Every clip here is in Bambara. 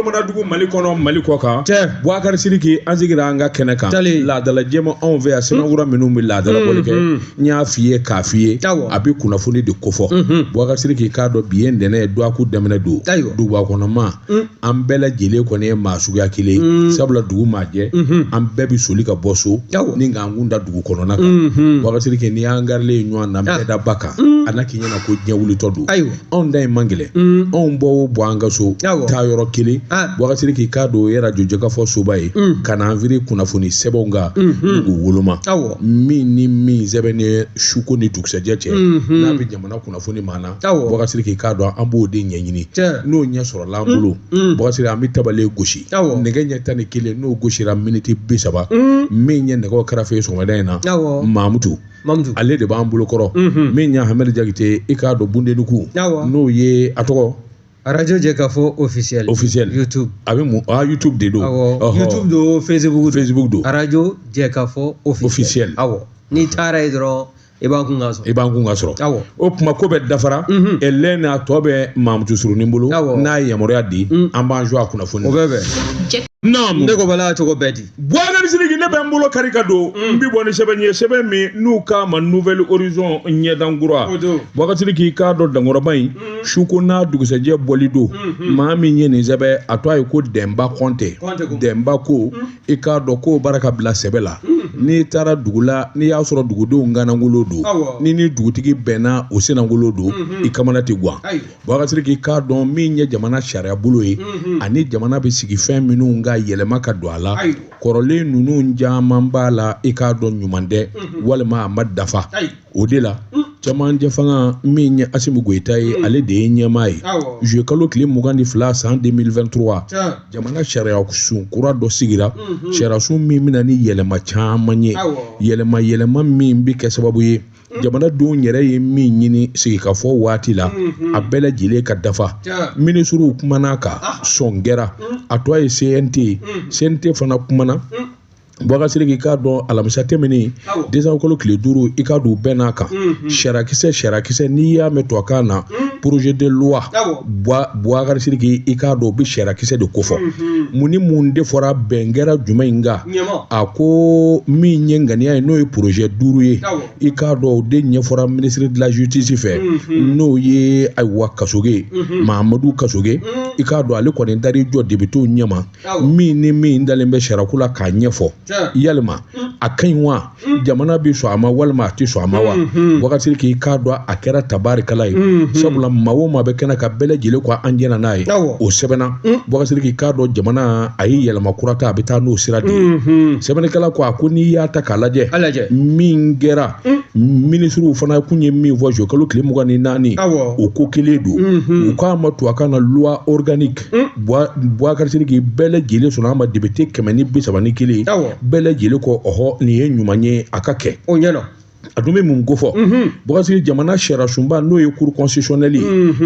mana dugu mali kɔnɔ mali kɔ kan cɛ buwakari siriki an sigira an ka kɛnɛ kan laadala jɛma anw fɛ yan sɛbɛnfura hmm. minnu bɛ laadala bɔli kɛ hmm, hmm, n y'a f'i ye k'a f'i ye a bɛ kunnafoni de kofɔ buwakari siriki k'a dɔn bi ye ntɛnɛn ye dɔgɔkun daminɛ don duguba kɔnɔ maa an bɛɛ lajɛlen kɔni ye maa suguya kelen ye sabula dugu maa jɛ an bɛɛ bɛ soli ka bɔ so ni k'an kun da dugu kɔnɔna kan buwakari siriki n'i y'an garilen ye ɲɔgɔn na bɛdaba kan a na k'i ɲɛna ko diɲɛ wulitɔ don anw ta in man gɛlɛn mm. anw bɔ o bɔ an ka so taa yɔrɔ kelen ah. Boubacar Sidiki k'a dɔn ye arajo jɛkafɔ soba ye mm. ka na an firi kunnafoni sɛbɛnw kan mm-hmm. u woloma min ni min sɛbɛnnen suko ni dugusɛjɛ cɛ mm-hmm. n'a bɛ jamana kunnafoni ma na Boubacar Sidiki k'a dɔn an b'o de ɲɛɲini n'o ɲɛ sɔrɔla an bolo mm. Boubacar an bɛ tabale gosi nɛgɛ ɲɛ tan ni kelen n'o gosira miniti bi saba min ɲɛ nɛgɛ kɛrɛfɛ sɔgɔmada in na mamutu Mamutu ale de b'an bolo kɔrɔ unhun min ɲa Hamɛdi Jakite i k'a dɔn Bundenuku awɔ n'o ye a tɔgɔ arajo jɛkafɔ officiel officiel youtube a bɛ mun a YouTube de don awɔ Ɔhɔ. youtube don facebook don Facebook don arajo jɛkafɔ officiel Officiel. awɔ n'i taara ye dɔrɔn i b'an kun ka sɔrɔ i b'an kun ka sɔrɔ awɔ o tuma ko bɛɛ dafara Mhm. ɛlɛn n'a tɔ bɛ Mamutu Surunin bolo Awɔ. n'a ye yamaruya di Mm. an b'an jɔ a kunnafoni o bɛɛ bɛn naamu ne ko bala cogo bɛ di Boubacar Sidiki ne bɛ n bolo kari ka don n bɛ bɔ ni sɛbɛn ye sɛbɛn min n'u k'a ma nouvelle horizon ɲɛdankura Boubacar Sidiki i k'a dɔn dankɔrɔba in su ko n'a dugusɛjɛ bɔli don maa min ye nin sɛbɛn a tɔgɔ ye ko Dɛnba Kɔnte Dɛnba ko i k'a dɔn k'o baara ka bila sɛbɛn la n'i taara dugu la n'i y'a sɔrɔ dugudenw kannagolo don n'i ni dugutigi bɛnna o sennagolo don i kamana tɛ gan Boubacar Sidiki k'a dɔn min ye jamana sariya bolo ye mhm. ani jamana bɛ sigi fɛn minnu kan yɛlɛma ka don a la kɔrɔlen ninnu caman b'a la i k'a dɔn ɲuman tɛ mhm. walima a ma dafa o de la mm. cɛmancɛ fanga min ye Asimu Goyita ye mm. ale de ye ɲɛmaa ye juillet kalo tile mugan ni fila san 2023 jamana sariya sun kura dɔ sigira mhm. sariya sun min bɛna ni yɛlɛma caman ye yɛlɛma yɛlɛma min bɛ kɛ sababu ye jamanadenw yɛrɛ ye min ɲini sigikafɔ waati la a bɛɛ lajɛlen ka dafa minisiriw kumana kan sɔn kɛra a tɔ ye cnt ye cnt fana kumana Boubacar Sidiki i k'a dɔn alamisa tɛmɛnen décembre kalo tile duuru i k'a dɔn u bɛnna a kan sariyakisɛ sariyakisɛ n'i y'a mɛn tubabukan na projet de loi Boubacar Sidiki i k'a dɔn o bɛ sariyakisɛ de kofɔ mun ni mun de fɔra bɛn kɛra jumɛn in kan a ko min ye ŋaniya ye n'o ye porozɛ duuru ye i k'a dɔn o de ɲɛfɔra ministre de la justice fɛ mhm. n'o ye ayiwa kasoge mhm. mahamadu kasoge mhm. i k'a dɔn ale kɔni taar'i jɔ depitew ɲɛma min ni min dalen bɛ sariyako la k'a ɲɛfɔ yalima a ka ɲi wa jamana bɛ sɔn a ma walima a tɛ sɔn a ma wa Boubacar Sidiki k'a dɔn a kɛra tabarikala ye sabula maa o maa bɛ kɛnɛ kan bɛɛ lajɛlen ko an jɛna n'a ye o sɛbɛnna Boubacar Sidiki k'a dɔn jamana a ye yɛlɛma kura ta a bɛ taa n'o sira de ye sɛbɛnnikɛla ko a ko n'i y'a ta k'a lajɛ min kɛra minisiriw fana kun ye min fɔ juillet kalo tile mugan ni naani o ko kelen don u k'a ma tubabukan na loi organique Boubacar Sidiki bɛɛ lajɛlen sɔnna a ma depite kɛmɛ ni bi saba ni kelen bɛɛ lajɛlen ko ɔhɔ nin ye ɲuman ye a ka kɛ o ɲɛna a dun bɛ mun kofɔ Boubacar Sidiki jamana sariyasunba n'o ye cour constitutionnelle ye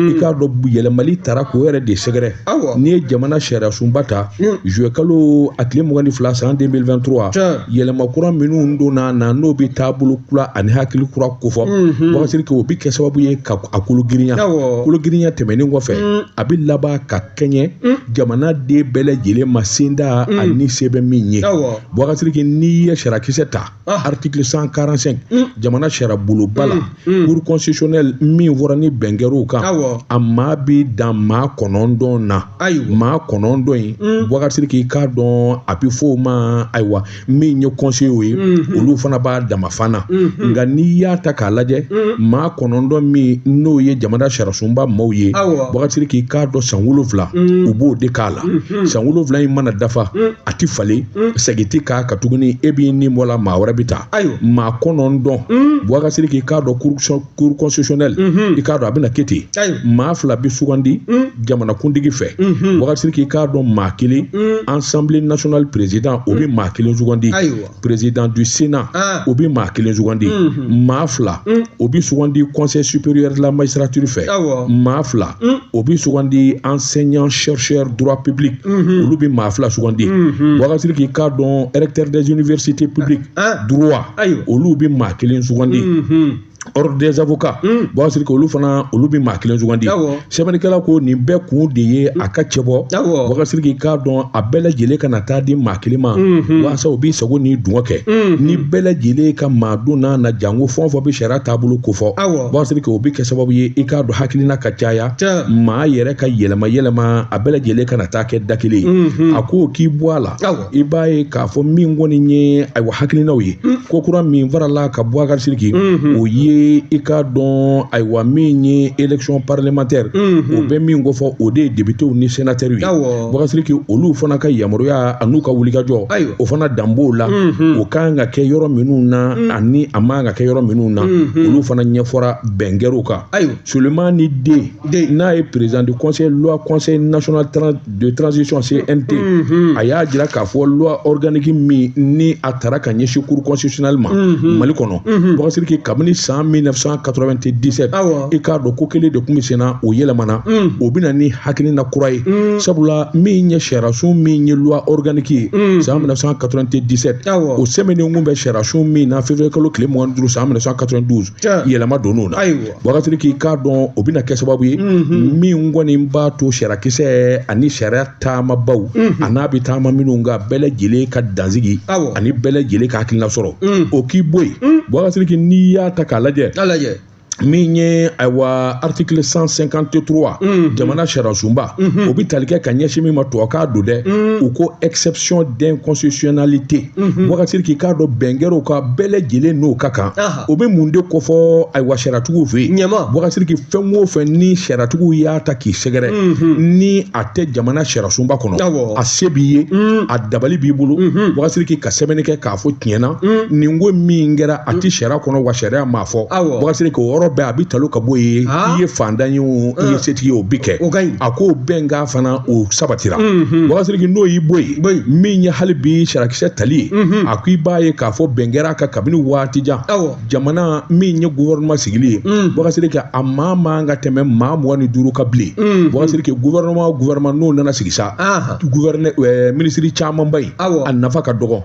i k'a dɔn yɛlɛmali taara k'o yɛrɛ de sɛgɛrɛ n'i ye jamana sariyasunba ta juillet kalo a tile mugan ni fila san deux mille vingt trois yɛlɛma kura minnu donna na n'o bɛ taabolo kura ani hakili kura kofɔ Boubacar Sidiki o bɛ kɛ sababu ye ka a kologirinya kologirinya tɛmɛnen kɔfɛ mm. a bɛ laban ka kɛɲɛ mm. jamanaden bɛɛ lajɛlen ma senda mm. ani se bɛ min ye Boubacar Sidiki n'i ye sariyakisɛ ta ah. article cent quarante cinq jamana sariyabulonba la cour constitutionnelle min fɔra ni bɛn kɛr'o kan a maa bɛ dan maa kɔnɔntɔn na maa kɔnɔntɔn in Boubacar Sidiki k'a dɔn a bɛ fɔ o ma ayiwa min ye kɔnseyew ye mhm. olu fana b'a dama fan na mhm. nka n'i y'a ta k'a lajɛ mhm. maa kɔnɔntɔn min n'o ye jamana sariyasunba maaw ye Boubacar Sidiki k'a dɔn san wolonwula u b'o de k'a la san wolonwula in mana dafa a ti falen segin ti k'a kan tuguni e b'i ni bɔ a la maa wɛrɛ bɛ taa maa kɔnɔntɔn Boubacar Sidiki k'a dɔn cour constitutionnelle mhm. i k'a dɔn a bɛna kɛ ten maa fila bɛ sugandi mhm. jamanakuntigi fɛ mhm. Boubacar Sidiki k'a dɔn maa kelen assemblée nationale président o bɛ maa kelen sugandi président du sénat ah. o bɛ maa kelen sugandi maa fila o bɛ sugandi conseil supérieur de la magistrature fɛ maa fila o bɛ sugandi enseignant chercheur droit public olu bɛ maa fila sugandi Boubacar Sidiki k'a dɔn recteur des universités publiques droit olu bɛ maa kelen sugandi ordre des avocats Boubacar Sidiki olu fana olu bɛ maa kelen sugandi sɛbɛnnikɛla ko nin bɛɛ kun de ye a ka cɛ Boubacar Sidiki k'a dɔn a bɛɛ lajɛlen kana taa di maa kelen ma walasa o b'i sago ni dungɔ kɛ ni bɛɛ lajɛlen ka maa don n'a na janko fɛn o fɛn bɛ sariya taabolo kofɔ Boubacar Sidiki o bɛ kɛ sababu ye i k'a dɔn hakilina ka caya maa yɛrɛ ka yɛlɛma yɛlɛma a bɛɛ lajɛlen kana taa kɛ da kelen ye a ko k'i bɔ a la i b'a ye k'a fɔ min kɔni ye ayiwa hakilinaw ye mm. ko kura min faral'a kan Boubacar Sidiki mm-hmm. o ye i k'a dɔn ayiwa min ye élection parlementaire mm-hmm. o bɛ min kofɔ o de ye depitew ni senatɛriw ye Boubacar Sidiki olu fana ka yamaruya an'u ka wulikajɔ o fana dan b'o la mm-hmm. o kan ka kɛ yɔrɔ minnu na mm. ani a man ka kɛ yɔrɔ minnu na olu fana ɲɛfɔra bɛn kɛr'u kan Sulemani De n'a ye président du conseil loi conseil national de transition CNT a y'a jira k'a fɔ loi organique min ni a tara ka ɲɛsin cour constitutionnelle ma Mali kɔnɔ Bɔkasiriki kabini san 1997 i k'a dɔn k'o kelen de tun bɛ senna o yɛlɛmana o bɛna ni hakilina kura ye sabula min ye sariyasun min ye loi organique ye san 1997 o sɛmɛnen kun bɛ sariyasun min na février kalo tile mugan ni duuru san 1992 yɛlɛma donn'o na. Bɔkasiriki k'a dɔn o bɛna kɛ sababu ye min kɔni b'a to sariyakisɛ ani sariya taamabaw an'a bɛ taama minnu kan bɛɛ lajɛlen ka dansigi ani bɛɛ lajɛlen ka hakilina sɔrɔ o k'i bɔ yen Bɔkasiriki n'i y'a ta k'a lajɛ min ye ayiwa article 153 jamana sariyasunba o bɛ tali kɛ ka ɲɛsin min ma tubabukan don dɛ u ko exception d'inconstitutionnalité Mhm. Bɔkasiriki k'a dɔn bɛn kɛr'o kan bɛɛ lajɛlen n'o ka kan o bɛ mun de kofɔ ayiwa sariyatigiw fɛ yen Bɔkasiriki fɛn o fɛn ni sariyatigiw y'a ta k'i sɛgɛrɛ mhm. ni a tɛ jamana sariyasunba kɔnɔ a se b'i ye mhm. a dabali b'i bolo Bɔkasiriki ka sɛbɛnni kɛ k'a fɔ tiɲɛna nin ko min kɛra a tɛ sariya kɔnɔ wa sariya m'a fɔ Bɔkasiriki o yɔrɔ bɛɛ a bɛ talo ka bɔ yen ah. i ye fantan ye o i ye ah. setigi ye o bɛ kɛ a k'o bɛnkan fana o sabatira Bɔkasiriki n'o y'i bɔ yen min ye hali bi sariyakisɛ tali ye mhm. a ko i b'a ye k'a fɔ bɛn kɛr'a kan kabini waati jan jamana min ye gouvernement sigili ye mhm. Bɔkasiriki a maa man ka tɛmɛ maa mugan ni duuru kan bilen mhm. Bɔkasiriki gouvernement o gouvernement n'o nana sigi sa minisiri camanba in a nafa ka dɔgɔ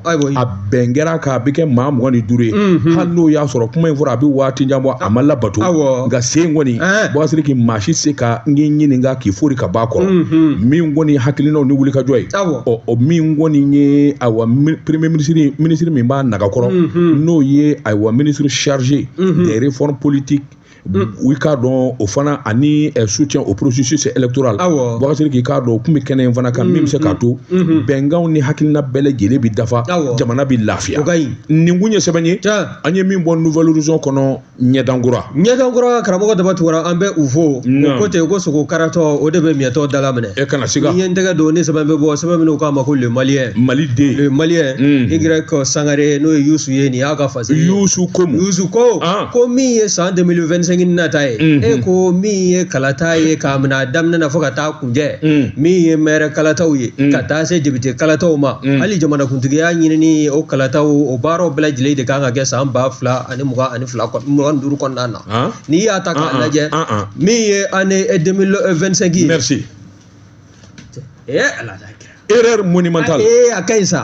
bɛn kɛra k'a bɛ kɛ maa mugan ni duuru ye mhm. hali n'o y'a sɔrɔ kuma in fɔra a bɛ waati jan bɔ a ma labato nka sen kɔni eh. Bɔkasiriki maa si se ka n k'i ɲininka k'i fori ka b'a kɔrɔ mhm. min kɔni hakilinaw ni wulikajɔ ye ɔ o min kɔni ye ayiwa premier ministre minisiri min b'a nagakɔrɔ mhm. n'o ye ayiwa ministre chargé des réformes politiques i k'a dɔn o fana ani soutien au processus électoral awɔ Bɔkasiriki k'a dɔn o tun bɛ kɛnɛ in fana kan min bɛ se k'a to bɛnkanw ni hakilina bɛɛ lajɛlen bɛ dafa jamana bɛ lafiya o ka ɲi nin kun ye sɛbɛn ye an ye min bɔ Nouvel Horizon kɔnɔ ɲɛdan kura ɲɛdan kura karamɔgɔ Daba Tunkara an bɛ u fo o ko ten ko sogo karatɔ o de bɛ miyɛtɔ dala minɛ e kana siga n'i ye n tɛgɛ don ni sɛbɛn bɛ bɔ sɛbɛn min u k'a ma ko le malien maliden le malien Y Sangare n'o ye Yusu ye nin y'a ka Parce Yusu ko Yusu ko ko min ye san 2025 nata ye e ko min ye kalata ye k'a minɛ a daminɛ na fo ka t'a kuncɛ min ye maire kalataw ye ka taa se député kalataw ma hali jamanakuntigiya ɲinini o kalataw o baaraw bɛɛ lajɛlen de kan ka kɛ san ba fila ani mugan ani fila mugan duuru kɔnɔna na n'i y'a ta k'a lajɛ min ye année 2025 ye Eh, erreur monumentale ee a ka ɲi sa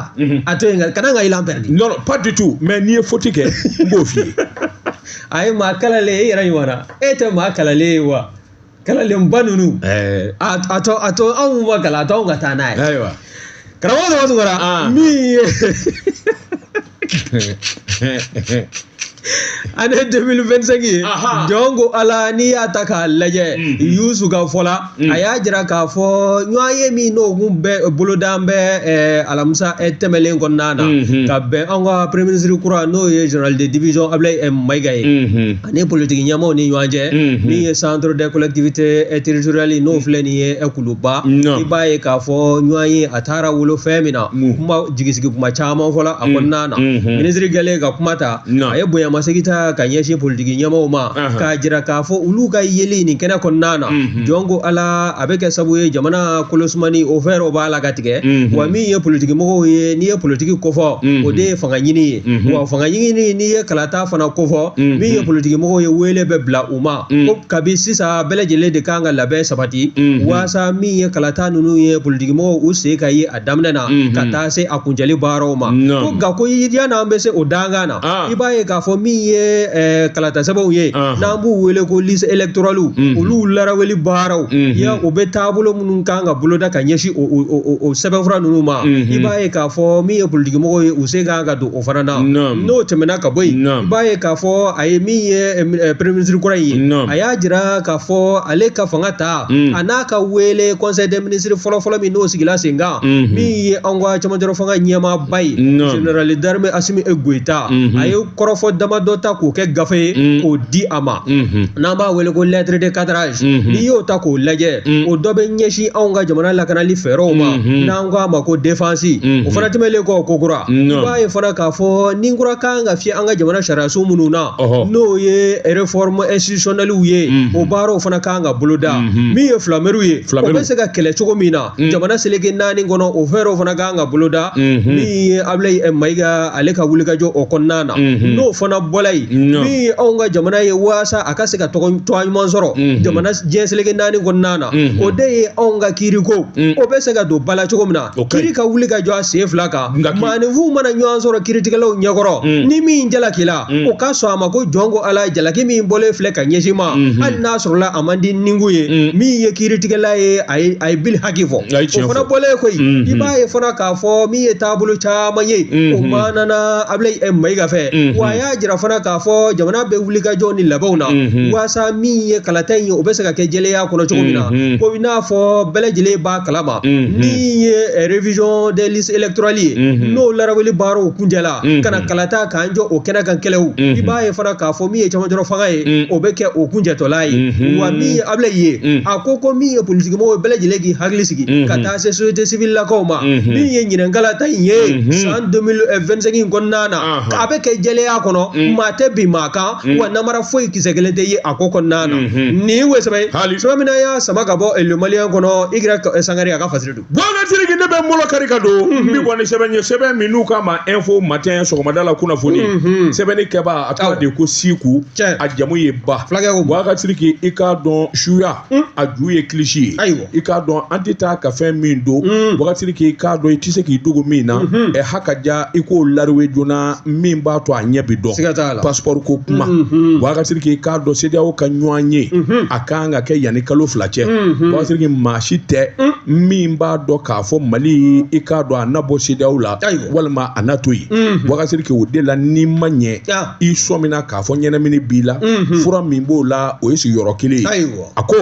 a to yen kana n ka élan pɛrɛdi non pas du tout mais n'i ye faute kɛ n b'o f'i ye a ye maa kalalen e yɛrɛ ɲɔgɔnna e tɛ maa kalalen ye wa kalalenba ninnu a to a to anw ma kalan a to anw ka taa n'a ye ayiwa karamɔgɔ dɔgɔtɔrɔ min ye année 2025 ye Aha. jɔn ko ala n'i y'a ta k'a lajɛ Mhm. yusu ka fɔ la a y'a jira k'a fɔ ɲɔgɔn ye min n'o kun bɛ boloda an bɛ eh, alamisa eh, tɛmɛlen kɔnɔna na Mhm. ka bɛn an ka premier ministre kura n'o ye général de division ablaye eh, mayiga ye Mhm. ani politiki ɲɛmaaw ni ɲɔgɔn cɛ min ye centre des collectivités territoriales n'o filɛ nin ye kuluba i b'a ye k'a fɔ ɲɔgɔn ye a taara wolo fɛn min na kuma jigisigi kuma caman fɔla a kɔnɔna na minisiri kɛlen ka kuma ta a ye bonyamasegin ta ka ɲɛsin politiki ɲɛmaaw ma k'a jira k'a fɔ olu ka yeli nin kɛnɛ kɔnɔna na jɔn ko ala a bɛ kɛ sababu ye jamana kolosumani o fɛɛrɛw b'a la ka tigɛ wa min ye politiki mɔgɔw ye n'i ye politiki kofɔ o de ye fanga ɲini ye wa fanga ɲini n'i ye kalata fana kofɔ mm-hmm. min ye politiki mɔgɔw ye wele bɛ bila u ma mm. ko kabi sisan bɛɛ lajɛlen de kan ka labɛn sabati mm-hmm. waasa min ye kalata ninnu ye politiki mɔgɔw u sen ka ye a daminɛ na mm-hmm. ka taa se a kuncɛli baaraw ma ko nka ko yann'an bɛ se o dankan na ah. i b'a ye k'a fɔ min ye eh, kalata sɛbɛnw ye ah. n'an b'u wele ko liste électorale olu laraweli baaraw ya o bɛ taabolo minnu kan ka boloda ka ɲɛsin o sɛbɛnfura ninnu ma i b'a ye k'a fɔ min ye politiki mɔgɔw ye u sen kan ka don o fana na n'o tɛmɛna ka bɔ yen i b'a ye k'a fɔ a ye min ye premier ministre kura ye a y'a jira k'a fɔ ale ka fanga ta a n'a ka wele conseil des ministres fɔlɔfɔlɔ min n'o sigila sen kan min ye an ka camancɛ fanga ɲɛmaaba ye général d'armée asimi e goyita a ye kɔrɔfɔ damadɔ ta k'o kɛ gafe ye k'o di a ma n'an b'a wele ko lettre de cadrage n'i y'o ta k'o lajɛ o dɔ bɛ ɲɛsin anw ka jamana lakanali fɛɛrɛw ma An k'a ma ko défense o fana tɛmɛlen kɔ ko kura i b'a ye fana k'a fɔ ni kura kan ka fiyɛ an ka jamana sariyaso minnu na n'o ye réforme institutionnelle ye o baaraw fana kan ka boloda min ye filamew ye o bɛ se ka kɛlɛ cogo min na jamana seleke naani kɔnɔ o fɛɛrɛw fana kan ka boloda min ye ablaye mayiga ale ka wulikajɔ o kɔnɔna na n'o fana bɔla yen min ye anw ka jamana ye walasa a ka se ka tɔgɔ ɲuman sɔrɔ jamana diɲɛ seleke naani kɔnɔna na o de ye anw ka kiiriko o bɛ se ka don ba la cogo min na kiiri ka wuli ka jɔ a sen fila kan maaninfinw mana ɲɔgɔn sɔrɔ kiiritigɛlaw ɲɛkɔrɔ ni min jalakila o ka sɔn a ma ko jɔn ko ala jalaki min bɔlen filɛ ka ɲɛsin n ma hali n'a sɔrɔla a man di ninku ye min ye kiiritigɛla ye a ye a ye bili haki fɔ o fana bɔlen kɔ yen i b'a ye fana k'a fɔ min ye taabolo caman ye o manana ablaye mayiga fɛ wa a y'a jira fana k'a fɔ jamana bɛ wuli ka jɔ ni labɛnw na walasa min ye kalata in ye o bɛ se ka a kɛ jɛlenya kɔnɔ cogo min na mm-hmm. ko i n'a fɔ bɛɛ lajɛlen b'a kalama mm-hmm. min ye eh, révision des listes électorales ye mm-hmm. n'o laraweli baaraw kuncɛla ka na kalata k'an jɔ o kɛnɛ kan kɛlɛw i b'a ye fana k'a fɔ min ye cɛmancɛrɔ fanga ye o bɛ kɛ o kuncɛtɔla ye wa min ye abulayi ye a ko min ye politikimɔgɔw bɛɛ lajɛlen k'i hakili sigi ka taa se société civile lakaw ma min ye ɲinɛn kalata in ye san 2025 in kɔnɔna na a bɛ kɛ jɛlenya kɔnɔ maa tɛ bin maa kan wa namara foyi kisɛ kelen tɛ ye a ko kɔnɔna na nin ye o sɛbɛn ye sa min an y'a sama ka bɔ le malien kɔnɔ i grec sangare a ka fasiri don bɔkasiriki ne bɛ mɔlɔ kari ka don n bɛ bɔ ni sɛbɛn ye sɛbɛn min n'u k'a ma info matin sɔgɔmada la kunnafoni sɛbɛnni kɛbaa a tɔgɔ de ko siku a jamu ye ba fulakɛ ko bɔkasiriki i k'a dɔn suya a ju ye kilisi ye ayiwa i k'a dɔn an tɛ taa ka fɛn min don mm. bɔkasiriki i k'a dɔn i tɛ se k'i dogo min na mm-hmm. ɛ ha ka ja i k'o lariwe joona min b'a to a ɲɛ bi dɔn siga t'a la pasipɔri ko kuma mm-hmm. bɔkasiriki i k'a dɔn sedeyaw ka ɲɔgɔnye mm-hmm. a kan ka kɛ yanni kalo fila cɛ bɔkasiriki maa si tɛ mm. min b'a dɔn k'a fɔ mali i k'a dɔn a na bɔ sedeyaw la walima a na to yen bɔkasiriki o de la n'i ma ɲɛ i sɔmina k'a fɔ ɲɛnamini b'i la fura min b'o la o ye sigi yɔrɔ kelen ye Ayiwa. a ko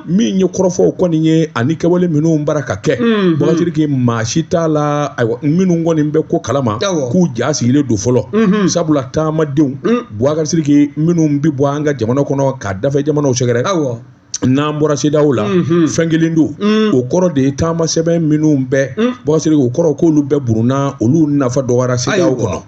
min ye kɔrɔfɔw kɔni ye ani kɛwale minnu bara ka kɛ bɔkasiriki maa si t'a la ayiwa minnu kɔni bɛ ko kalama Awɔ. k'u ja sigilen don fɔlɔ sabula taamadenw bɔkasiriki minnu bɛ bɔ an ka jamana kɔnɔ ka dafɛ jamanaw sɛgɛrɛ Ayiwa. n'an bɔra sedaw la fɛn kelen don o kɔrɔ de ye taamasɛbɛn minnu bɛɛ bɔsiriki o kɔrɔ k'olu bɛɛ burunna olu nafa dɔgɔyara sedaw kɔnɔ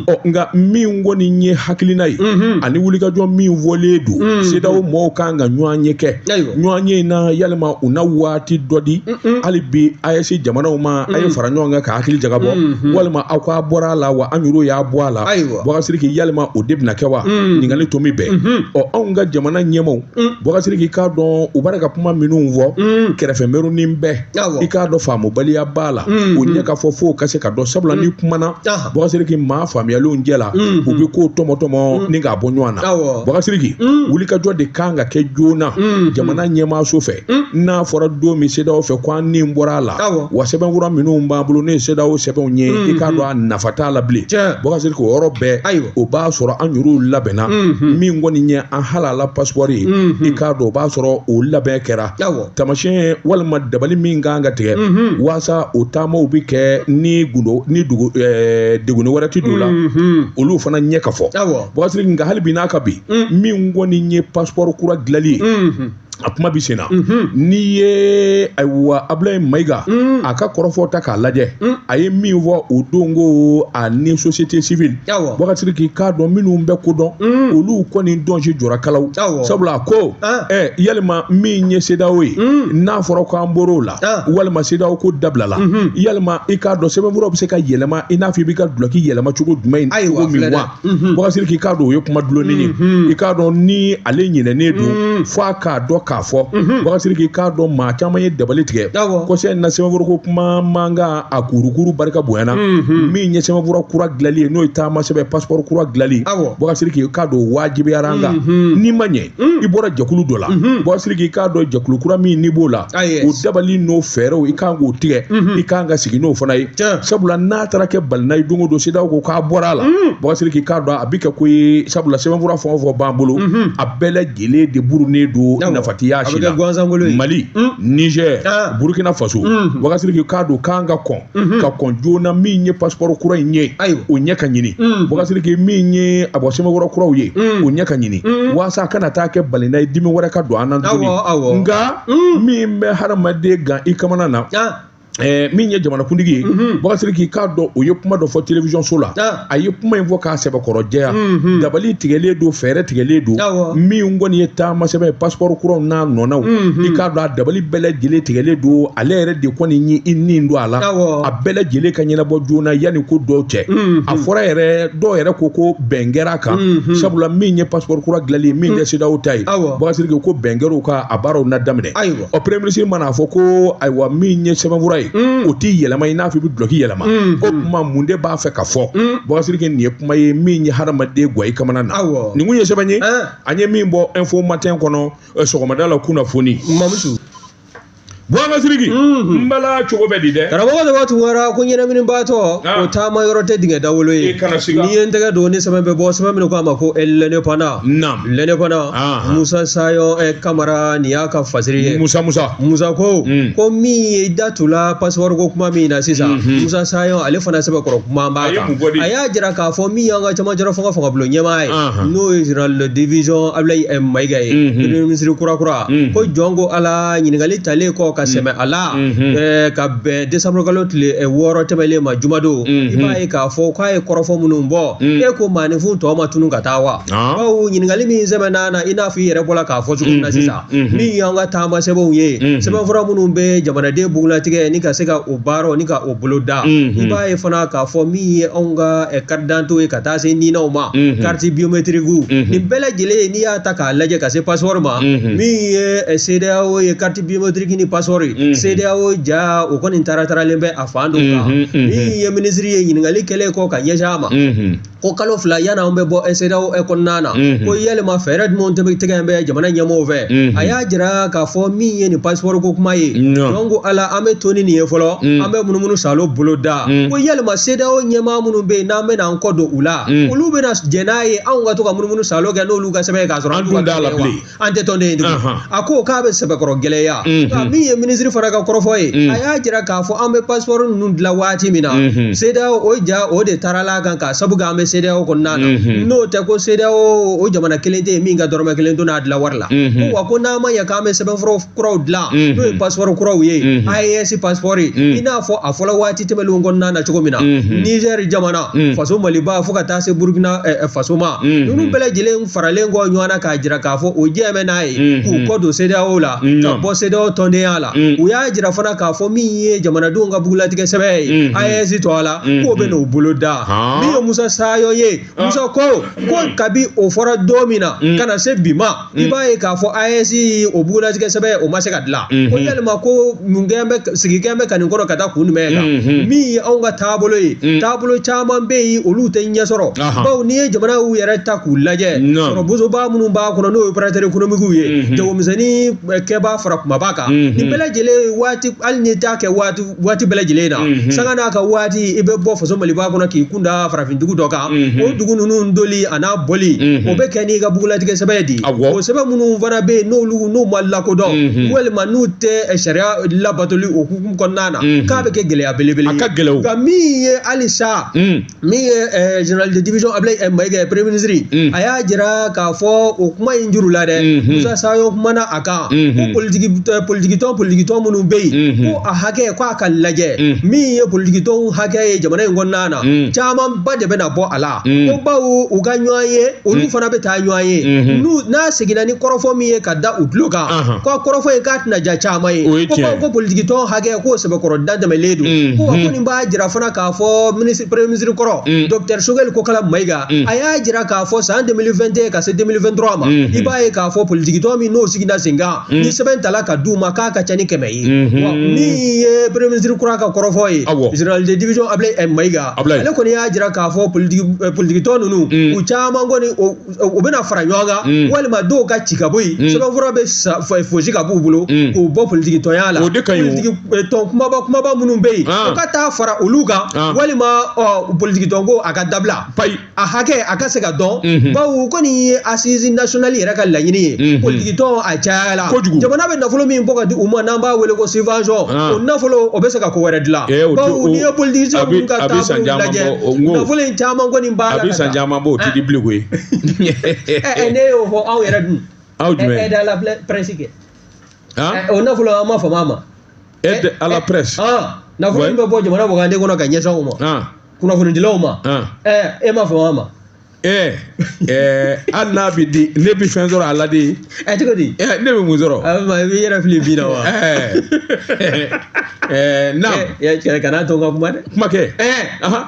ɔ nka min kɔni ye hakilina ye ani wulikajɔ min fɔlen don sedaw mɔgɔw kan ka ɲɔgɔnye kɛ ɲɔgɔnye in na yalima u na waati dɔ di hali bi AES jamanaw ma a ye fara ɲɔgɔn kan ka hakili jagabɔ walima aw k'aw bɔra a la wa an yɛrɛ y'aw bɔ a la bɔsiriki yalima o de bɛna kɛ wa ɲininkali to min bɛn ɔ anw ka jamana ɲɛmaaw Bɔkasiriki i k'a dɔn u bara ka kuma minnu fɔ kɛrɛfɛmɛrunin bɛɛ i k'a dɔn faamubaliya b'a la u ɲɛ ka fɔ fo ka se ka dɔn sabula ni kuma nana bɔkasiriki maa faamuyalenw cɛ la u bɛ ko tɔmɔtɔmɔ ni k'a bɔ ɲɔgɔn na bɔkasiriki wulikajɔ de kan ka kɛ joona jamana ɲɛmaaso fɛ n'a fɔra don min sedeyaw fɛ ko an ni bɔra a la wa sɛbɛnfura minnu b'an bolo ni sedeyaw sɛbɛnw ye i k'a dɔn a nafa t'a la bilen bɔkasiriki o yɔrɔ bɛɛ ayiwa o b'a sɔrɔ an yɛrɛw labɛnna min kɔni ye an halala pasipɔri ye mhm. i k'a dɔn o b'a sɔrɔ o labɛn kɛra tamasiyɛn walima dabali min kan ka tigɛ mhm. waasa o taamaw bɛ kɛ ni gundo ni dugu eh, degunni wɛrɛ tɛ don a la mhm. olu fana ɲɛ ka fɔ bɔkasiriki nka hali bi n'a ka bi min kɔni ye pasipɔri kura dilanli ye a kuma bɛ sen na n'i ye ayiwa abulayi mayiga a ka kɔrɔfɔ ta k'a lajɛ a ye min fɔ o don ko a ni société civile Awɔ. buwa ka siriki i k'a dɔn minnu bɛ ko dɔn olu kɔni dɔnsi jɔra kalaw Awɔ. sabula a ko Ah. ɛ yalima min ye sedawo ye n'a fɔra ko an bɔr'o la Ah. walima sedawo ko dabilala yalima i k'a dɔn sɛbɛnfuraw bɛ se ka yɛlɛma i n'a fɔ i bɛ ka dulɔki yɛlɛma cogo jumɛn Ayiwa, cogo min filɛ dɛ. wa buwa ka siriki i k'a dɔn o ye kuma dulonnen ye i k'a dɔn ni ale ɲinɛnen don fo a k'a dɔn k'a fɔ buwa ka siriki i k'a dɔn maa caman ye dabali tigɛ kɔsɛ in na sɛbɛnfurako kuma mankan a kurukuru barika bonyana min ye sɛbɛnfura kura dilanli ye n'o ye taama sɛbɛn pasipɔri kura dilanli buwa ka siriki i k'a dɔn o wajibiyara an kan n'i ma ɲɛ i bɔra jɛkulu dɔ la buwa ka siriki i k'a dɔn jɛkulu kura min n'i b'o la o dabali n'o fɛɛrɛw i kan k'o tigɛ i kan ka sigi n'o fana ye sabula n'a taara kɛ balina ye don o don sedawo ko k'a bɔra a la buwa ka siriki i k'a dɔn a bɛ kɛ ko ye sabula sɛbɛnfura fɛn o fɛn b'an bolo a bɛɛ lajɛlen de burunnen don nafa tɛ a si la mali nizɛr burukina faso buwa ka siriki i k'a dɔn k'an ka kɔn Mhm. ka kɔn joona min ye pasipɔri kura in ye ayiwa o ɲɛ ka ɲini mhm. buwa ka siriki min ye a bɔ sɛbɛnfura kuraw ye mhm. o ɲɛ ka ɲini waasa a kana taa kɛ balina ye dimi wɛrɛ ka don an na tuguni nka min bɛ hadamaden gan i kamana na ah. eh, min ye jamanakuntigi ye buwa ka siriki i k'a dɔn o ye kuma dɔ fɔ telewisɔnso la ah. a ye kuma in fɔ k'a sɛbɛkɔrɔ jɛya mhm. dabali tigɛlen don fɛɛrɛ tigɛlen don min kɔni ye taama sɛbɛn ye pasipɔri kuraw n'a nɔnaw mhm. i k'a dɔn a dabali bɛɛ lajɛlen tigɛlen don ale yɛrɛ de kɔni ye i nin don a la a bɛɛ lajɛlen ka ɲɛnabɔ joona yanni ko dɔw cɛ mhm. a fɔra yɛrɛ dɔw yɛrɛ ko ko bɛn kɛra a kan sabula min ye pasipɔri kura dilanli ye min tɛ sedawo ta ye buwa ka siriki ko bɛn kɛra o kan a baaraw na daminɛ ɔ premier ministre man'a fɔ ko ayiwa min ye sɛbɛnfura ye o t'i yɛlɛma i n'a fɔ i bɛ dulɔki yɛlɛma o kuma mun de b'a fɛ ka fɔ buwa ka siriki nin ye kuma ye min ye hadamaden gan i kamana na nin kun ye sɛbɛn ye an ye min bɔ info matin kɔnɔ sɔgɔmada la kunnafoni mamusu buwa ka siriki n bala cogo bɛ di dɛ karamɔgɔ de b'a tugura ko ɲɛnaminibaatɔ o taama yɔrɔ tɛ dingɛ dawolo ye n'i ye n tɛgɛ don ni sɛbɛn bɛ bɔ sɛbɛn min ko a ma ko l'indépendant lɛnɛ kɔnɔ Anhan. musa sayɔn eh, kamara nin y'a ka fasiri ye musa musa musa ko Mm. ko min ye da tula pasipɔri ko kuma min na sisan musa sayɔn ale fana sɛbɛkɔrɔ kuma b'a A ye kan mun fɔ de? a y'a jira k'a fɔ min y'an ka camancɛla fanga fangabulon ɲɛmaa ye Anhan. n'o ye général de division abulayi eh, mayiga ye Mhm. premier ministre kurakura Mhm. ko jɔn ko ala ɲininkali talen kɔ ka sɛmɛ a la Mhm. eh, ka bɛn desanburu kalo tile eh, wɔɔrɔ tɛmɛlen ma jumadon i Mhm. b'a ye k'a fɔ k'a ye kɔrɔfɔ minnu bɔ Mhm. e ko maaninfin tɔ ma tunun ka taa wa bawo ɲininkali min sɛbɛn n'a na i n'a fɔ i yɛrɛ bɔra k'a fɔ cogo min na sisan min y'an ka taama sɛbɛnw ye sɛbɛnfura minnu bɛ jamanaden bugulatigɛ ni ka se ka o baara ni ka o bolo da i b'a ye fana k'a fɔ min ye anw ka carte d'identité ye ka taa se ninaw ma carte biométrique nin bɛɛ lajɛlen n'i y'a ta k'a lajɛ ka se passeport ma min ye CEDEAO ye carte biométrique ni passeport CEDEAO ja o kɔni tara taralen bɛ a fan dɔ kan min ye minisiri ye ɲininkali kɛlen kɔ ka ɲɛsin a ma ko kalo fila yan anw bɛ bɔ CEDEAO kɔnɔna na ko yalima fɛɛrɛ jumɛn de tigɛlen bɛ jamana ɲɛmɔgɔw fɛ a y'a jira k'a fɔ min ye nin passeport ko kuma ye donc yala an bɛ to ni nin ye fɔlɔ an bɛ munumunu salo bolo da ko yalima CEDEAO ɲɛmaa minnu bɛ yen n'an bɛna an kɔ don u la olu bɛna jɛn n'a ye anw ka to ka munumunu salo kɛ n'olu ka sɛbɛn ye k'a sɔrɔ an dun t'a la bilen an tɛ tɔnden ye tugun a ko k'a bɛ sɛbɛkɔrɔ gɛlɛya nka min ye minisiri fana ka kɔrɔfɔ ye a y'a jira k'a fɔ an bɛ passeport ninnu dilan waati min na CEDEAO o ja o de tarala a kan k'a sabu kɛ an bɛ CEDEAO kɔnɔna na n'o tɛ ko CEDEAO o jamana kelen tɛ yen min ka dɔrɔmɛ kelen donna a dilan wari la ko wa ko n'an ma ɲɛ k'an bɛ sɛbɛnfura kuraw dilan n'o ye passeport kuraw ye AES passeport i n'a fɔ a fɔla waati tɛmɛnlenw kɔnɔna na cogo min na Nizɛri jamana faso Maliba fo ka taa se Burukina faso ma ninnu bɛɛ lajɛlen faralen kɔ ɲɔgɔn na k'a jira k'a fɔ o jɛn bɛ n'a ye k'u kɔ don CEDEAO la ka bɔ CEDEAO tɔndenya la u y'a jira fana k'a fɔ min ye jamanadenw ka bugulatigɛ sɛbɛn ye AES tɔgɔ la k'o bɛ n'o bolo da min ye Musa Sayɔn ye Musa ko ko kabi o fɔra don min na ka na se bi ma i b'a ye k'a fɔ AES o bugulatigɛ sɛbɛn o ma se ka dilan ko yalima ko mun kɛn bɛ sigikɛn bɛ ka nin kɔrɔ ka taa kun jumɛn kan min ye anw ka taabolo ye taabolo caman bɛ yen olu tɛ ɲɛ sɔrɔ bawo n'i ye jamanaw yɛrɛ ta k'u lajɛ sɔrɔ bosoba minnu b'a kɔnɔ n'o ye opérateur économique ye jagomisɛnnin kɛbaa fara kunbaba kan nin bɛɛ lajɛlen waati hali n'i t'a kɛ waati waati bɛɛ lajɛlen na mhm. sanga n'a ka waati i bɛ bɔ faso maliba kɔnɔ k'i kun da farafin dugu dɔ kan mhm. o dugu ninnu doli an'a bɔli mhm. o bɛ kɛ n'i ka bugulatigɛ sɛbɛn di o sɛbɛn minnu fana bɛ yen n'olu n'u ma lakodɔn walima n'u tɛ eh, sariya labatoli o hukumu kɔnɔna na k'a bɛ kɛ gɛlɛya belebele ye a ka gɛlɛn nka min ye halisa mm. min ye eh, général de division ablaye eh, mayiga eh, premier ministre mm. a y'a jira k'a fɔ o kuma in juru la dɛ mm-hmm. musa sayɔn kumana a kan ko mm-hmm. politikitɔn politikitɔn minnu bɛ yen mm-hmm. ko a hakɛ ko a ka lajɛ mm. min ye politikitɔnw hakɛ ye jamana in kɔnɔna na mm. camanba de bɛna bɔ a la ko bawo u ka ɲɔgɔnye olu fana bɛ taa ɲɔgɔn ye n'u n'a seginna ni kɔrɔfɔ min ye ka da u tulo kan uh-huh. ko a kɔrɔfɔ ye k'a tɛna diya caman ye ko bawo ko politikitɔn hakɛ k'o sɛbɛkɔrɔ dantɛmɛlen don ko wa ko nin b'a jira fana k'a fɔ minisiri premier ministre kɔrɔ mm. docteur sogɛli kokala mayiga mm. a y'a jira k'a fɔ san 2021 ka se 2023 ma mm-hmm. i b'a ye k'a fɔ politikitɔn minnu sigida sen kan mm. ni sɛbɛn tala ka d'u ma k'a ka ca ni kɛmɛ ye mm-hmm. wa min ye premier ministre kura ka kɔrɔfɔ ye général de division ablaye eh, mayiga ale kɔni y'a jira k'a fɔ politikitɔn eh, ninnu u caman kɔni u bɛna fara ɲɔgɔn kan mm. walima dɔw ka ci ka bɔ yen mm. sɛbɛnfura bɛ fosi ka b'u bolo mm. k'u bɔ politikitɔnya la politikitɔn eh, kumaba kumaba minnu bɛ yen ah. u ka taa fara olu kan ah. walima politikitɔn ko a ka dabila a hakɛ a ka se ka dɔn mm-hmm. bawo u kɔni ye assise nationale yɛrɛ ka laɲini ye mm-hmm. politikitɔn a cayala jamana bɛ nafolo min bɔ ka di u ma n'an b'a wele ko subvention ah. o nafolo o bɛ se ka ko wɛrɛ dilan eh, bawo n'i ye politikitɔn minnu ka taabolo lajɛ nafolo in caman kɔni a bɛ san caman bɔ o tɛ di bilen koyi ne y'o fɔ aw yɛrɛ dun aw jumɛn aide à la presse kɛ o nafolo an ma fama a ma aide à la presse nafolo min bɛ bɔ jamana wagande kɔnɔ ka ɲɛsin aw ma kunnafonidilaw ma e ma fama a ma ɛɛ ɛɛ hali n'a bɛ di ne bɛ fɛn sɔrɔ a la de ɛ cogo di ɛ ne bɛ mun sɔrɔ a bɛ i bɛ yɛrɛ fili bin na wa ɛɛ ɛɛ na cɛ kana to n ka kuma dɛ kuma kɛ ɛɛ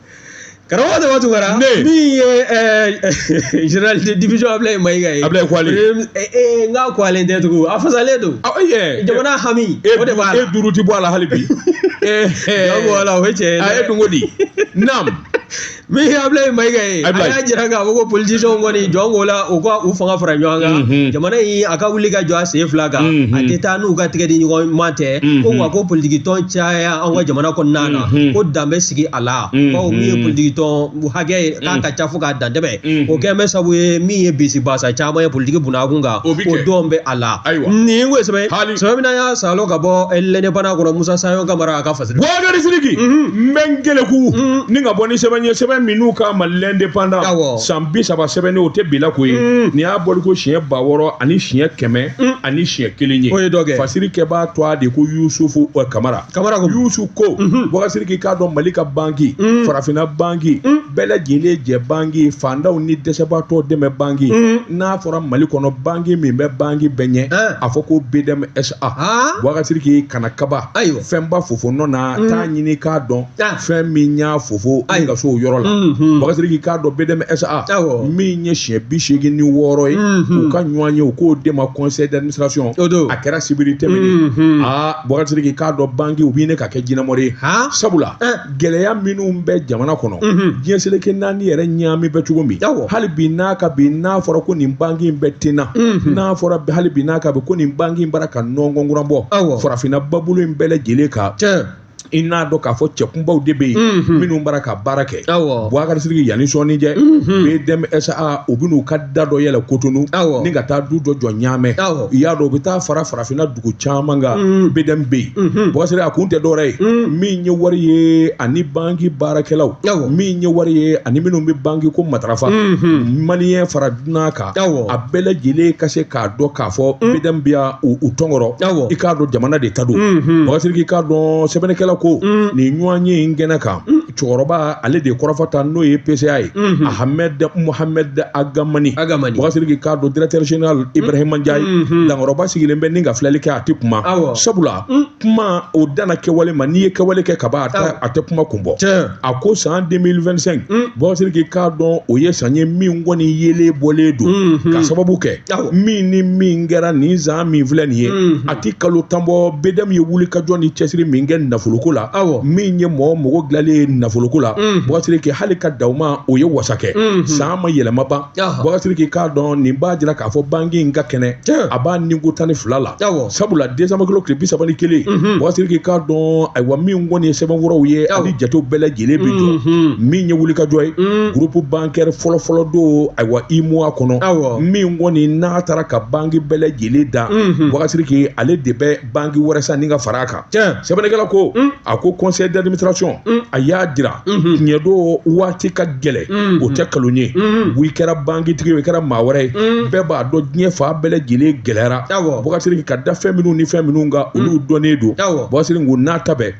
karamɔgɔ dama tugara min ye général de division ablaye mayiga ye ablaye kwalen nka kwalen tɛ tugun a fasalen don jamana hami o de b'a la e duuru ti bɔ a la hali bi bɔ a la o ye tiɲɛ ye a ye dun ko di naam min ye ablaye mayiga ye a y'a jira k'a fɔ ko politicienw kɔni jɔn k'o la u ka u fanga fara ɲɔgɔn kan jamana in a ka wuli ka jɔ a sen fila kan a tɛ taa n'u ka tɛgɛ di ɲɔgɔn ma tɛ ko wa ko politikitɔn caya an ka jamana kɔnɔna na ko dan bɛ sigi a la bawo min ye politikitɔn hakɛ ye k'a ka ca fo ka dantɛmɛ o kɛn bɛ sabu ye min ye bisi basa caman ye politiki bunakun kan o dɔn bɛ a la nin ko sɛbɛ sɛbɛ min y'a salo ka bɔ l'indépendant kɔnɔ musa sayɔn kamara a ka fasiri bubakari siriki n bɛ n keleku ni ka bɔ ni sɛbɛn ye sɛbɛn min u k'a ma l'indépendant san bi saba sɛbɛnni o tɛ bila ko ye nin y'a bɔli ko siɲɛ ba wɔɔrɔ ani siɲɛ kɛmɛ ani siɲɛ kelen ye o ye dɔ kɛ fasiri kɛbaa tɔgɔ de ko yusufu ɛ kamara kamara ko yusufu ko bubakari siriki k'a dɔn mali ka banki farafinna banki bɛɛ lajɛlen jɛ banki faantanw ni dɛsɛbaatɔ dɛmɛ banki n'a fɔra mali kɔnɔ banki min bɛ banki bɛɛ ɲɛ a fɔ ko bdmsa bubakari siriki kana kaba ayiwa fɛnba fofo nɔ na t'a ɲini k'a dɔn fɛn min y'a fofo ka s'o yɔrɔ la bubakari siriki k'a dɔn bdm sa min ye siɲɛ bi seegin ni wɔɔrɔ ye u ka ɲɔgɔnye u k'o de ma conseil d'administration a kɛra sibiri tɛmɛnen aa bubakari siriki k'a dɔn banki u bɛ ɲini ka kɛ jinɛmori ye sabula gɛlɛya minnu bɛ jamana kɔnɔ diɲɛ seleke naani yɛrɛ ɲaami bɛ cogo min hali bi n'a ka bi n'a fɔra ko nin banki in bɛ ten na n'a fɔra hali bi n'a ka bi ko nin banki bara ka nɔngɔnkura bɔ farafinna ba bolo in bɛɛ lajɛlen kan i n'a dɔn k'a fɔ cɛkunbaw de bɛ yen mhm. minnu bara ka baara kɛ buwakarisiriki yanni sɔɔni cɛ mhm. bdmsa u bɛn'u ka da dɔ yɛlɛ kotonu ni ka taa du dɔ jɔ ɲaamɛ i y'a dɔn u bɛ taa fara farafinna dugu caman kan mhm. bdm bɛ yen buwakarisiriki a kun tɛ dɔwɛrɛ ye min ye wari ye ani banki baarakɛlaw min ye wari ye ani minnu bɛ banki ko matarafa maliyɛn fara dunan kan a bɛɛ lajɛlen ka se k'a dɔn k'a fɔ mm. bdm bɛ yan u tɔnkɔrɔ i k'a dɔn jamana de ta don mm-hmm. buwakarisiriki i k'a dɔn sɛbɛnnikɛla ko mm. nin ɲɔgɔnye in kɛnɛ kan mm. cɛkɔrɔba ale de kɔrɔfɔ ta n'o ye PCA ye mm-hmm. Ahmed Mohamed Ag Hamani buwakarisiriki i k'a dɔn directeur général Ibrahima Ndiaye dankɔrɔba sigilen bɛ ni ka filɛli kɛ a tɛ kuma sabula kuma o dana kɛwale ma n'i ye kɛwale kɛ ka ban a tɛ kuma kun bɔ a ko san 2025 mm. buwakarisiriki i k'a dɔn o ye san ye min kɔni yelen bɔlen don mm-hmm. ka sababu kɛ min ni min kɛra nin san min filɛ nin ye mm-hmm. a ti kalo tan bɔ bdm ye wuli ka jɔ ni cɛsiri min kɛ nafoloko la min ye mɔgɔ mago dilanlen ye nafoloko la mm. buwakarisiriki hali ka dan o ma o ye wasa kɛ mm-hmm. san ma yɛlɛma ban Buwakarisiriki i k'a dɔn nin b'a jira k'a fɔ banki in ka kɛnɛ a b'a ni ko tan ni fila la sabula desanburukalo tile bisaba ni kelen buwakarisiriki i k'a dɔn ayiwa min kɔni ye sɛbɛnfuraw ye ani jatew bɛɛ lajɛlen bɛ jɔ min ye wuli kajɔ ye groupe bancaire fɔlɔfɔlɔ don ayiwa UEMOA kɔnɔ min kɔni n'a taara ka banki bɛɛ lajɛlen dan buwakarisiriki ale de bɛ banki wɛrɛ san ni ka fara a kan tiɲɛ sɛbɛnnikɛla ko mm. a ko conseil d'administration mm. a y'a jira mm-hmm. tiɲɛ don waati ka gɛlɛ mm-hmm. o tɛ kalon ye mm-hmm. i kɛra bankitigi ye i kɛra maa wɛrɛ ye mm. bɛɛ b'a dɔn diɲɛ fan bɛɛ lajɛlen gɛlɛyara buwakarisiriki ka da fɛn minnu ni fɛn minnu kan olu dɔnnen don buwakarisiriki o n'a ta bɛɛ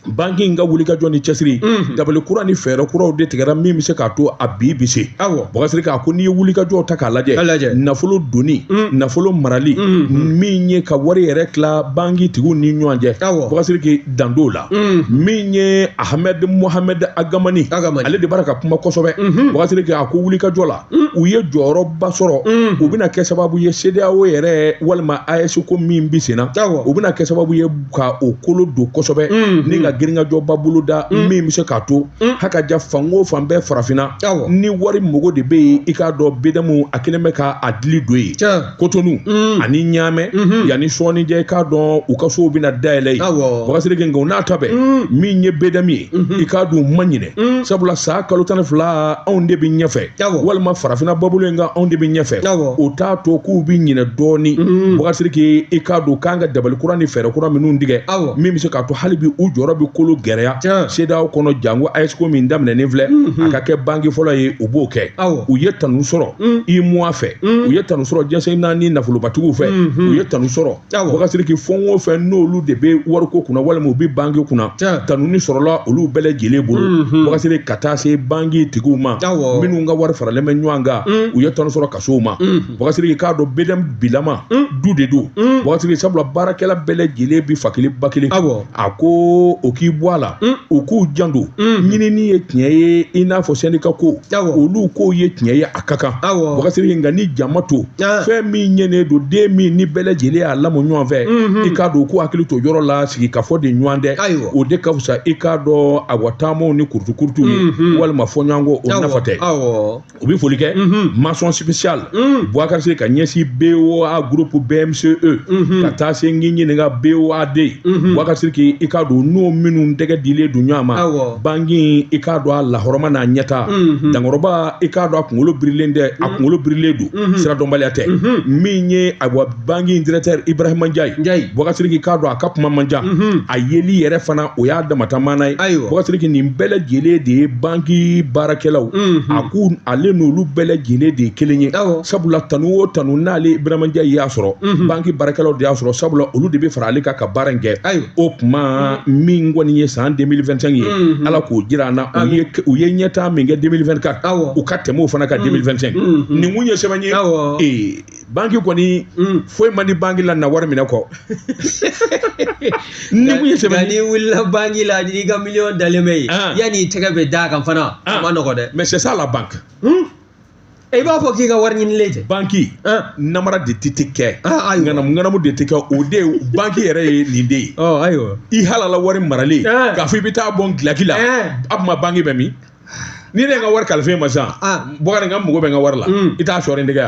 banki in ka wulikajɔ ni cɛsiri mhm. dabali kura ni fɛɛrɛ kuraw de tigɛra min bɛ se k'a to a bi bi se buwakarisiriki a ko n'i ye wulikajɔw ta k'a lajɛ nafolo donni mhm. nafolo marali mhm. min ye ka wari yɛrɛ tila banki tigiw ni ɲɔgɔn cɛ buwakarisiriki dan t'o la mm. min ye ahamɛdi muhamɛdi agamani ale de bara ka kuma kosɛbɛ buwakarisiriki mm-hmm. a ko wuli ka jɔ la mm. u ye jɔyɔrɔba sɔrɔ mm. u bɛna kɛ sababu ye sedeyawo yɛrɛ walima ayɛsi ko min bi senna u bɛna kɛ sababu ye ka o kolo don kosɛbɛ mm-hmm. ni ka girinkajɔba bolo da min bɛ se k'a to hakaja fan o fan bɛɛ farafinna ni wari mago de bɛ yen i k'a dɔn bdm a kɛlen bɛ ka a dili don yen kotonu mm. ani ɲaamɛ mm -hmm. yanni sɔɔni cɛ i k'a dɔn u ka sow bɛna dayɛlɛ yen buwakarisiriki nka o n'a ta bɛɛ mm. min ye bdm ye mm -hmm. i k'a dɔn u ma ɲinɛ mm. sabula san kalo tan ni fila anw de bɛ ɲɛfɛ walima farafina babolo in kan anw de bɛ ɲɛfɛ o t'a to k'u bɛ ɲinɛ dɔɔni mm. buwakarisiriki i k'a dɔn k'an ka dabali kura ni fɛɛrɛ kura minnu tigɛ min bɛ se k'a to hali bi u jɔyɔrɔ bɛ kolo gɛrɛya sedeyawo kɔnɔ jango ayɛsi ko min daminɛnen filɛ mm-hmm. a ka kɛ banki fɔlɔ ye u b'o kɛ u ye tanu sɔrɔ UEMOA fɛ u ye tanu sɔrɔ jɛnsɛn na ni nafolobatigiw fɛ u ye tanu sɔrɔ wakasiriki fɛn o fɛn n'olu de bɛ wariko kunna walima u bɛ banki kunna tanuni sɔrɔla olu bɛɛ lajɛlen bolo wakasiriki ka taa se banki tigiw ma minnu ka wari faralen bɛ ɲɔgɔn kan u ye tanu sɔrɔ ka s'u ma wakasiriki k'a dɔn BDM bilama du de don wakasiriki sabula baarakɛla bɛɛ lajɛlen bɛ fa kelen ba kelen a ko o k'i bɔ a la mm. u k'u janto mm. ɲinini ye tiɲɛ ye i n'a fɔ syndicat ko olu k'o ye tiɲɛ ye a ka kan wakasiriki nka ni jama to fɛn min ɲɛnen don den min ni bɛɛ lajɛlen y'a lamɔ ɲɔgɔn fɛ mm-hmm. i k'a dɔn k'u hakili to yɔrɔ la sigikafɔ de ɲɔgɔn tɛ o de ka fisa i k'a dɔn a wa taamaw ni kurutukurutu ye mm-hmm. walima fɔɲɔgɔnko o nafa tɛ u bɛ foli kɛ mention spéciale buwakari siriki ka ɲɛsin boa groupe bmce ka taa se n k'i ɲininka boad buwakari siriki i k'a dɔn n'o minnu tɛgɛ dilen don ɲɔgɔn ma banki in i k'a dɔn a lahɔrɔma n'a ɲɛtaa dankɔrɔba i k'a dɔn a kunkolo birilen tɛ a kunkolo birilen don siradɔnbaliya tɛ min ye a banki in directeur Ibrahima Ndiaye Boubacar Sidiki k'a dɔn a ka kuma man ca mhm. a yeli yɛrɛ fana o y'a dama ta maana ye Boubacar Sidiki nin bɛɛ lajɛlen de ye banki baarakɛlaw mhm. a ko ale n'olu bɛɛ lajɛlen de ye kelen ye sabula tanu o tanu n'ale Ibrahima Ndiaye y'a sɔrɔ mhm. banki baarakɛlaw de y'a sɔrɔ sabula olu de bɛ fara ale kan ka baara in kɛ o kuma min kɔni ye san 2025 ye ala k'o jira an na u ye ɲɛtaa min kɛ 2024 u ka tɛmɛ o fana kan 2025 nin kun ye sɛbɛn ye ee banki kɔni mm. foyi man di banki la na wari minɛ kɔ nin kun ye sɛbɛn n'i wulila banki la n'i ka miliyɔn dalen bɛ yen ah. yanni i tɛgɛ bɛ d'a kan fana a ah. man nɔgɔn dɛ mais c'est ça la banque hmm? eh, i b'a fɔ k'i ka wari ɲinilen tɛ banki ah. namara de tɛ tɛ kɛ ŋanamu ŋanamu de tɛ kɛ o de ye banki yɛrɛ ye nin de ye oh, ayiwa i halala wari maralen k'a fɔ i bɛ taa bɔ n gilaki la eh. a tuma banki bɛ min ni ne ka wari kalifa i ma sisan buwakari n mago bɛ n ka wari la i t'a sɔrɔ nin tɛgɛ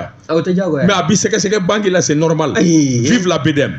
mais a b'i sɛgɛsɛgɛ banki la c'est normal vive la bdm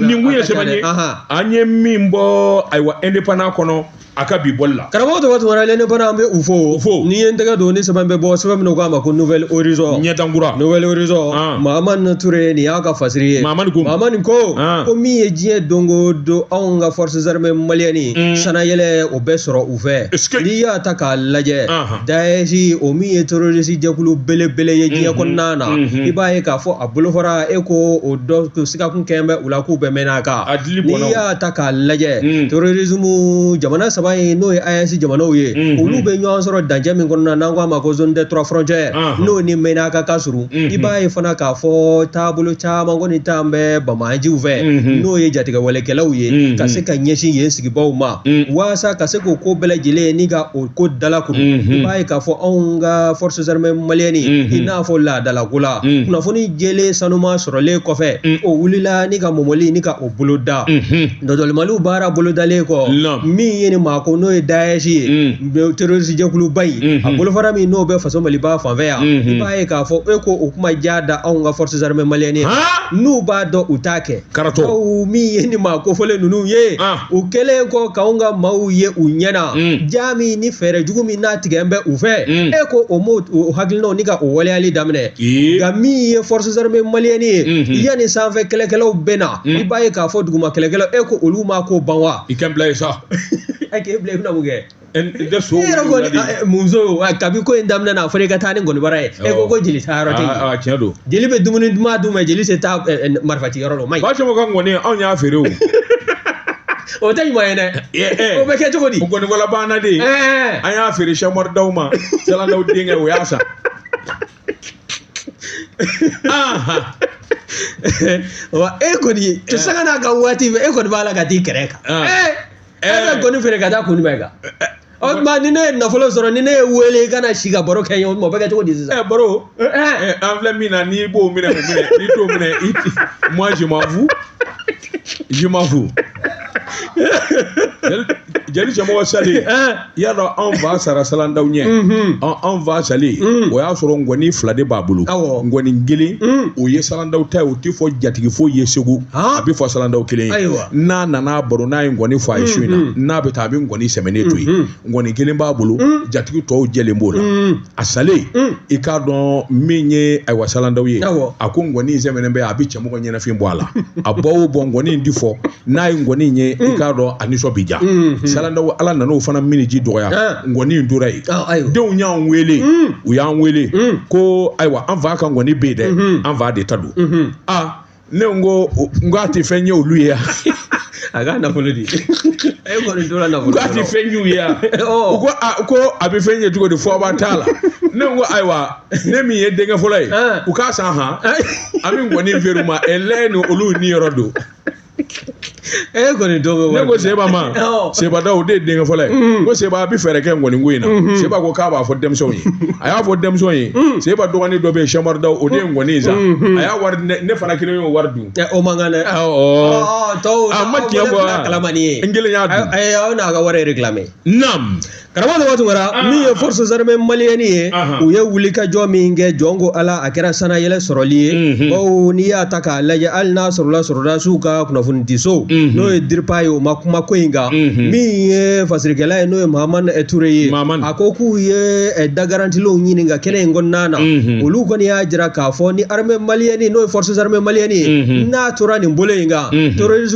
nin kun ye sɛbɛn ye an ye min bɔ ayiwa indépendant kɔnɔ a ka bi bɔli la karamɔgɔ tɔgɔ tuma indépendant an bɛ u fo fo n'i ye n tɛgɛ don ni sɛbɛn bɛ bɔ sɛbɛn min k'a ma ko nouvel horizon ɲɛdan kura nouvel horizon mahamane touré nin y'a ka fasiri ye maama ko mahamane ko ko min ye diɲɛ don o don anw ka forces armées maliennes sannayɛlɛn o bɛ sɔrɔ fɛ Est-ce que- n'i y'a ta k'a lajɛ Anhan. Daesh o min ye terroriste jɛkulu belebele ye diɲɛ Mhm. kɔnɔna na Mhm. i b'a ye k'a fɔ a bolofara e ko o dɔ ko sigakun kɛn bɛ u la k'u bɛ Ménaka A dili n'i bɔnna o. y'a ta k'a lajɛ Mm. terrorisme jamana saba in n'o ye AES jamanaw ye Mhm. olu bɛ ɲɔgɔn sɔrɔ dancɛ min kɔnɔna na n'an k'a ma ko zone des trois frontières Anhan. n'o ni Ménaka ka surun Mhm. i b'a ye fana k'a fɔ taabolo caman kɔni tun bɛ banbaanciw fɛ Mhm. n'o ye jatigɛwalekɛlaw ye Mhm. ka se ka ɲɛsin yen sigibaw ma Mm. waasa ka se k'o ko bɛɛ lajɛlen ni ka o ko dala kuru mm-hmm. i b'a ye k'a fɔ anw ka forces armées maliennes mm-hmm. i n'a fɔ laadalako la mm. kunnafoni jɛlen sanuma sɔrɔlen kɔfɛ mm. o wulila ni ka mɔmɔli ni ka o bolo da mm-hmm. dɔdɔlimaliw baara bolodalen kɔ min ye ni maa ko n'o ye Daesh ye terroriste jɛkuluba in a bolofara min n'o bɛ faso maliba fanfɛ yan i b'a ye k'a fɔ e ko o kuma jan da anw ka forces armées maliennes n'u b'a dɔn u t'a kɛ karatɔ aw min ye nin maa kofɔlen ninnu ye ah. u kɛlen kɔ k'anw ka maaw ye u ɲɛ na mm. jan min ni fɛɛrɛ jugu min natigɛn bɛ u fɛ mm. e ko o m'o o hakilinaw ni ka o waleyali daminɛ nka min ye forces armées maliennes ye mm-hmm. yanni sanfɛ kɛlɛkɛlaw bɛ na mm. i b'a ye k'a fɔ duguma kɛlɛkɛlaw e ko olu ma ko ban wa i kɛ bila ye sa a k'e bila i bɛna mun kɛ tɛ so muso kabi ko in daminɛna a fɔra i ka taa ni nkɔnibara ye e ko ko jeli taa yɔrɔ tɛ yen tiɲɛ don jeli bɛ dumuni duman dun mais jeli tɛ taa marifa ci yɔrɔ la o ma ɲi ba sɔgɔ ka nkɔni anw y'a feere o o tɛ ɲuman ye dɛ o bɛ kɛ cogo di nkɔnibara banna de an y'a feere sɛmɔri daw ma salandaw denkɛ o y'a san wa e kɔni cɛ sanga n'a ka waati e kɔni b'a la ka t'i kɛrɛ kan e bɛ ngɔni feere ka taa koni bɛ kan o tuma ni ne ye nafolo sɔrɔ ni ne y'e wele i ka na si ka baro kɛ n ye o tuma o bɛ kɛ cogo di sisan. ɛ baro ɛ an filɛ min na n'i b'o minɛ o minɛ n'i t'o minɛ i ti moi je m'en fous je m'en fous jeli jeli cɛmɔgɔ salen. y'a dɔn anw fa sara salandaw ɲɛ anw fa salen o y'a sɔrɔ ngɔni fila de b'a bolo ngɔni kelen o ye salandaw ta ye o tɛ fɔ jatigi foyi ye segu a bɛ fɔ salandaw kelen ye n'a nana baro n'a ye ngɔni fɔ a ye su in na n'a bɛ taa a bɛ ngɔni sɛmɛnen to yen ngɔni kelen b'a bolo jatigi tɔw jɛlen b'o la a salen i k'a dɔn min ye ayiwa salandaw ye a ko ngɔni in sɛmɛnen bɛ a bɛ cɛmɔgɔ ɲɛnafin bɔ a la a bɔ o bɔ ngɔni in di fɔ n'a ye ngɔni in ye i k'a dɔn a nisɔn bɛ diya salandaw ala nana o fana minniji dɔgɔya ngɔni in tora yen denw y'an wele u y'an wele ko ayiwa an fa ka ngɔni bɛ yen dɛ an fa de ta don aa ne ko n k'a tɛ fɛn ɲɛ olu ye yan a ka nafolo di e kɔni tora nafolo k'a tɛ fɛn ɲ'u ye yan u ko a ko a bɛ fɛn ɲɛ cogo di fɔbaa t'a la ne ko ayiwa ne min ye denkɛ fɔlɔ ye u k'a san han an bɛ ngɔni feere u ma ɛlɛ ni olu niyɔrɔ don e kɔni dɔ bɛ wari ne ko seba ma seba daw o de ye denkɛ fɔlɔ ye mm. ko seba a bɛ fɛɛrɛ kɛ nkɔni ko in na mm-hmm. seba ko k'a b'a fɔ denmisɛnw ye a y'a fɔ denmisɛnw ye mm. seba dɔgɔnin dɔ bɛ yen sɛmɔri daw o de ye nkɔni in san mm-hmm. a y'a wari ne fana kelen y'o wari dun o man kan dɛ tɔw a ma tiɲɛ fɔ kalama ni ye n kelen y'a dun ayi aw n'a ka wari réclamé naam karamɔgɔ de waati wɛrɛ min ye forces armées maliennes ye u ye wulikajɔ min kɛ jɔn ko ala a kɛra sanayɛlɛ sɔrɔli ye bawo n'i y'a ta k'a lajɛ hali n'a sɔrɔla sɔrɔdasiw ka kunnafonidiso n'o ye DIRPA ye o ma kuma ko in kan min ye fasirikɛla ye n'o ye mahamani ture ye a ko k'u ye dagarantilenw ɲini ka kɛnɛ in kɔnɔna na olu kɔni y'a jira k'a fɔ ni armée malienne n'o ye forces armées maliennes ye n'a tora nin bolo in kan terrorisme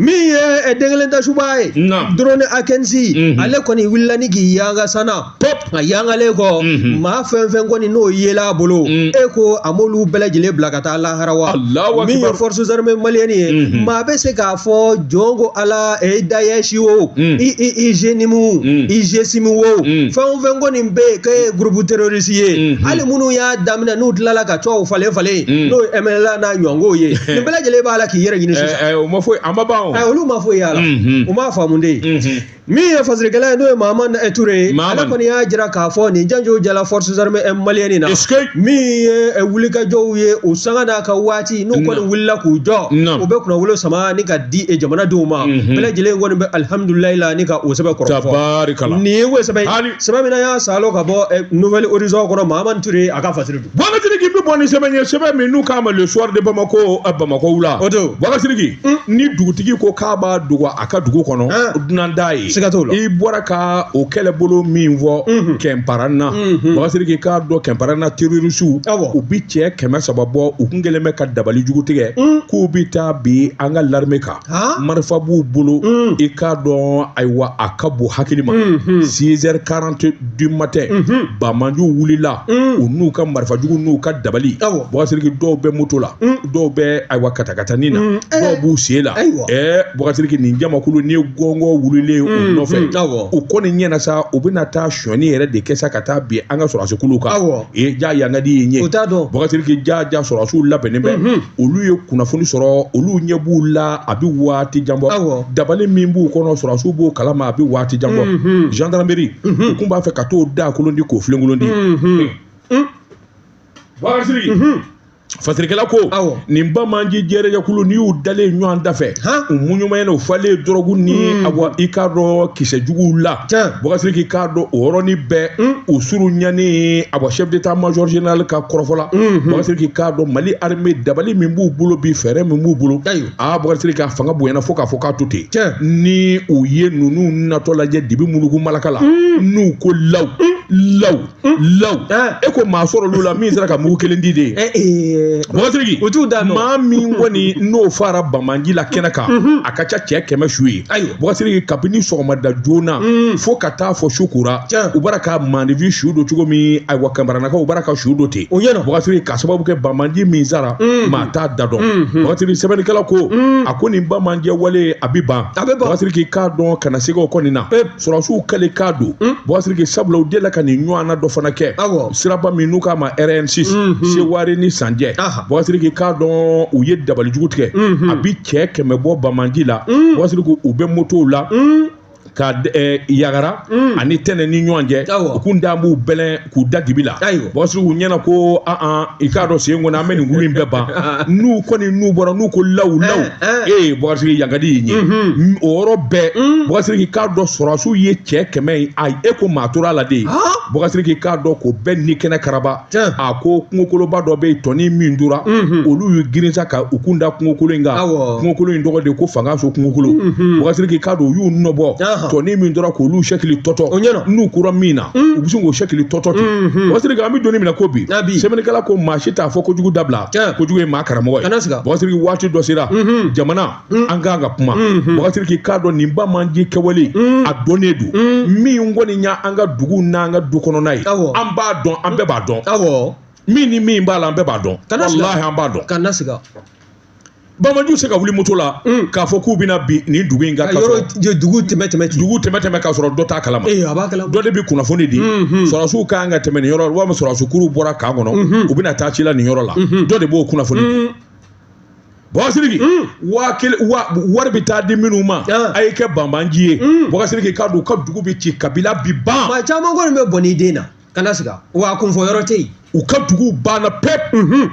min ye eh, denkelen ta suba ye drone Akinci mhm. ale kɔni wulila ni k'i yanga sana pop a yangalen kɔ mhm. maa fɛn fɛn kɔni n'o yela a bolo mm. e ko a m'olu bɛɛ lajɛlen bila ka taa lahara wa min ye forces armées maliennes ye mhm. maa bɛ se k'a fɔ jɔn ko ala e Daesh o mm. i i i JNIM mm. i GSIM o fɛn o fɛn kɔni bɛ yen k'e ye groupe terroriste ye hali minnu y'a daminɛ n'u tilala ka tɔgɔw falen falen n'o ye MNLA n'a ɲɔgɔnko ye nin bɛɛ lajɛlen b'a la k'i yɛrɛ ɲini sisan Ɛ o ma foyi a ma ban o. Ɛ olu ma foyi y'a la. U m'a faamu de. Min ye fasirikɛla ye n'o ye Mahamani Ture ye. Ale kɔni y'a jira k'a fɔ nin janjo jala forces armées maliennes in na. Min ye wulikajɔw ye o sanga n'a ka waati n'u kɔni wulila k'u jɔ. Naamu. U bɛ kunnawolo sama ni ka di jamanadenw ma. Bɛɛ lajɛlen kɔni bɛ alihamudulilayi la ni ka o sɛbɛn kɔrɔfɔ. Tabarikala. Nin ye o sɛbɛn ye. Sɛbɛn min n'an y'a salon ka bɔ Nouvel Horizon kɔnɔ Mahamani Ture a ka fasiri. Bɔgasiriki bɛ bɔ ni sɛbɛn ye sɛbɛn min n'u k'a ma le soir de Bamako ɛ Bamako wula o don Bɔgasiriki ni dugutigi ko k'a b'a dogo a ka dugu kɔnɔ o dunan t'a ye siga t'o la i bɔra ka o kɛlɛbolo min fɔ kɛnparana Bɔgasiriki k'a dɔn kɛnparana terrorisiw u bɛ cɛ kɛmɛ saba bɔ u kun kɛlen bɛ ka dabali jugu tigɛ k'u bɛ taa bin an ka l'armée kan. marifa b'u bolo mm. i k'a dɔn ayiwa a ka bon hakili ma mm-hmm. six heures quarante du matin mm-hmm. banbaanciw wulila mm. u n'u ka marifa jugu n'u ka dabali bɔgasiriki dɔw bɛ moto la mm. dɔw bɛ ayiwa katakatani na eh. dɔw b'u sen la ɛɛ eh, bɔgasiriki nin jamakulu ni gɔngɔ wulilen u mm-hmm. nɔfɛ u kɔni ɲɛna sa u bɛna taa sɔni yɛrɛ de kɛ sa ka taa bin an ka sɔrɔdasikulu kan ee jaa yangadi ye ɲɛ bɔgasiriki jaa jaa sɔrɔdasiw labɛnnen bɛ olu ye kunnafoni sɔrɔ olu ɲɛ b'u la a bɛ waati jan bɔ dabali min b'u kɔnɔ sɔrɔsiw b'o kalama a bɛ waati jan bɔ gendarmerie u kun b'a fɛ ka t'o daakolon di k'o filenkolon di bɔgasiriki fasirikɛla ko nin banbaanci jɛrɛjɛkulu n'i y'u dalen ɲɔgɔn dafɛ u muɲumayɛlɛ u falen dɔrɔgu ni awa i k'a dɔn kisɛ juguw la tiɲɛ bɔgasiriki k'a dɔn o yɔrɔnin bɛɛ u suru ɲani awa chef d'état major général ka kɔrɔfɔ la bɔgasiriki k'a dɔn mali armée dabali min b'u bolo bi fɛɛrɛ min b'u bolo ayiwa bɔgasiriki a fanga bonyana fo k'a fɔ k'a to ten tiɲɛ ni u ye ninnu natɔ lajɛ dibi munugu malaka la n'u ko law law law e ko maa sɔrɔ olu la min sera ka mugu kelen di de ye bɔgasiriki o t'u da maa min kɔni n'o faara banbaanci la kɛnɛ kan a ka ca cɛ kɛmɛ su ye bɔgasiriki kabini sɔgɔmada joona fo ka taa fɔ su kora u bara ka maaninfin su don cogo min ayiwa kinparanakaw u bara ka su don ten o ɲɛna bɔgasiriki ka sababu kɛ banbaanci min sara maa t'a da dɔn bɔgasiriki sɛbɛnnikɛla ko a ko nin banbaanci wale a bɛ ban a bɛ bɔgasiriki k'a dɔn kana siga o kɔni na sɔrɔsiw kɛlen k'a don hmm? bɔgasiriki sabula u delila ka nin ɲɔgɔnna dɔ fana kɛ siraba min n'u k'a ma rn6 hmm, hmm. sewari ni san cɛ bɔgasiriki k'a dɔn u ye dabalijugu tigɛ a bi cɛ kɛmɛ bɔ banbaanci la bɔgasiriki u bɛ motow la ka eh, yagara ani tɛnɛ ni ɲɔgɔn cɛ u kun dan b'u bɛlɛn k'u da dibi la bɔgasiriki u ɲɛna ko an i k'a dɔn sen kɔnɔ an bɛ nin kulu in bɛɛ ban n'u kɔni n'u bɔra n'u ko lawu lawu ee bɔgasiriki yankadi y'i ɲɛ mhm. o yɔrɔ bɛɛ mhm. bɔgasiriki k'a dɔn sɔrɔsiw ye cɛ kɛmɛ ye a e ko maa tora a la de bɔgasiriki k'a dɔn ko bɛɛ ni kɛnɛ karaba a ko kungokoloba dɔ bɛ yen tɔnin min tora mhm. olu y'u girinsa ka u kun da kungokolo in kan kungokolo in tɔgɔ de ko fangaso kungokolo bɔgasiriki k'a dɔn u y'u nɔbɔ tɔnin min tora k'olu sɛkili tɔtɔ o ɲɛna n'u kura min na u bɛ sin k'o sɛkili tɔtɔ ten bɔgasiriki an bɛ don min na ko bi sɛbɛnnikɛla ko maa si t'a fɔ kojugu dabila kojugu ye maa karamɔgɔ ye bɔgasiriki waati dɔ sera jamana an kan ka kuma bɔgasiriki k'a dɔn nin banbaanci kɛwale a dɔnnen don min kɔni y'an ka dugu n'an ka du kɔnɔna ye an b'a dɔn an bɛɛ b'a dɔn min ni min b'a la an bɛɛ b'a dɔn walahi an b'a dɔn Banbaanci se ka wuli moto la k'a fɔ k'u bɛna bin nin dugu in kan ka sɔrɔ dugu tɛmɛ tɛmɛ ten dugu tɛmɛ tɛmɛ ka sɔrɔ dɔ t'a kalama ee a b'a kalama dɔ de bɛ kunnafoni di sɔrɔdasiw ka kan ka tɛmɛ nin yɔrɔ la walima sɔrɔdasi kuruw bɔra kan kɔnɔ u bɛna taa ci la nin yɔrɔ la dɔ de b'o kunnafoni di Bɔgasiriki waa kelen waa wari bɛ taa di minnu ma a ye kɛ banbaanci ye Bɔgasiriki k'a dɔn u ka dugu bɛ ci kabila bɛ ban maa caman kɔni bɛ bɔnɛ i den na kana siga wa a kunfɔ yɔrɔ tɛ yen u ka dugu banna pewu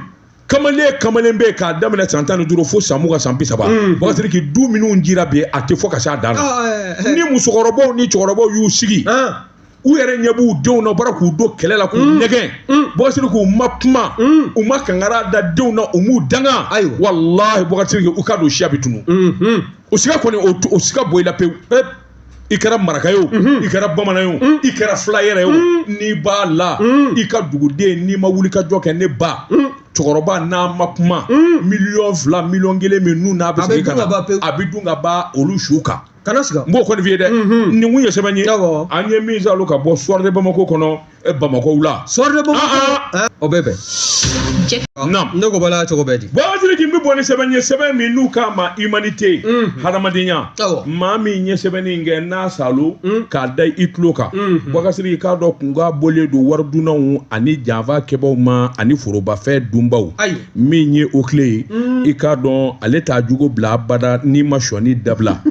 kamalen kamalen bɛ k'a daminɛ san tan ni duuru fo san mugan san bi saba mm. bɔgasiriki du minnu cira bi a tɛ fɔ ka se a dan na ah, eh, eh. ni musokɔrɔbaw ni cɛkɔrɔbaw y'u sigi ah. u yɛrɛ ɲɛ b'u denw na u bɔra k'u don kɛlɛ la k'u mm. nɛgɛn mm. bɔgasiriki u ma kuma u ma kankari da denw na u m'u danga walahi bɔgasiriki u k'a dɔn siya bɛ tunun mm-hmm. o siga kɔni o siga bɔ i la pewu i kɛra maraka ye o i kɛra bamanan ye o i kɛra fila yɛrɛ ye o n'i b'a la i ka duguden n'i ma wuli ka jɔ kɛ ne ba cɛkɔrɔba n'a ma kuma miliyɔn fila miliyɔn kelen min n'u n'a bɛ segin ka na a bɛ dun ka ban olu su kan kana siga n b'o kɔni f'i ye dɛ nin kun ye sɛbɛn ye an ye min salo ka bɔ Soir de Bamako kɔnɔ e bamakɔ wula Soir de Bamako o bɛ bɛn ne ko bala cogo bɛɛ di buwakari siriki n bɛ bɔ ni sɛbɛn ye sɛbɛn min n'u k'a ma humanité hadamadenya maa min ye sɛbɛnni in kɛ n'a salo k'a da i tulo kan buwakari siriki k'a dɔn kunka bɔlen don wari dunnaw ani janfa kɛbaaw ma ani forobafɛn dunbaw min ye OCLEI ye i k'a dɔn ale t'a jugu bila abada n'i ma sɔnni dabila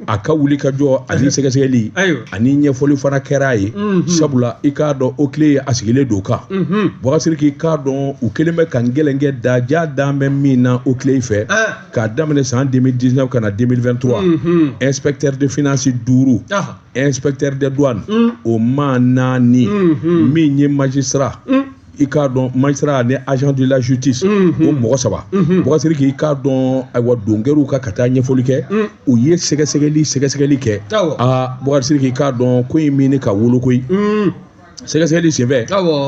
a ka wuli ka jɔ ani sɛgɛsɛgɛli ani ɲɛfɔli fana kɛra a ye mhm. sabula i k'a dɔn OCLEI ye a sigilen don kan mhm. buwakari siriki k'a dɔn u kelen bɛ ka n gɛlɛnkɛ da ja dan bɛ min na OCLEI fɛ ah. k'a daminɛ san 2019 ka na 2023 mhm. inspecteur de finance duuru ah. inspecteur de douane mm. o maa naani min ye magistrat mm. i k'a dɔn magistrat ni agent de la justice o mhm. mɔgɔ saba mhm. buwakari siriki k'a dɔn ayiwa donkɛriw ka ka taa ɲɛfɔli kɛ mhm. u ye sɛgɛsɛgɛli sɛgɛsɛgɛli kɛ aa buwakari siriki k'a dɔn ko in min ni ka wolo koyi sɛgɛsɛgɛli senfɛ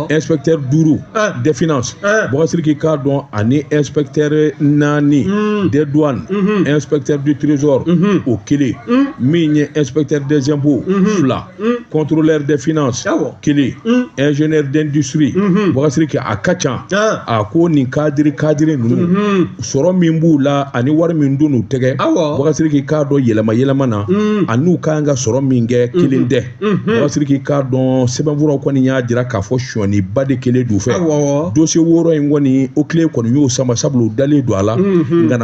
inspecteur duuru ah. des finances ah. buwakari siriki k'a dɔn ani inspecteur naani hmm. des douanes inspecteur du trésor o kelen min ye inspecteur des impôts fila contrôleur des finances kelen ingénieur d'industrie buwakari siriki a ka ca a ko nin cadre cadre ninnu sɔrɔ min b'u la ani wari min don u tɛgɛ buwakari siriki k'a dɔn yɛlɛma yɛlɛma na an'u ka kan ka sɔrɔ min kɛ kelen tɛ buwakari siriki k'a dɔn sɛbɛnfuraw kɔni y'a jira k'a fɔ sɔniba de kɛlen d'u fɛ dosiye wɔɔrɔ in kɔni OCLEI kɔni y'o sama sabula u dalen don a la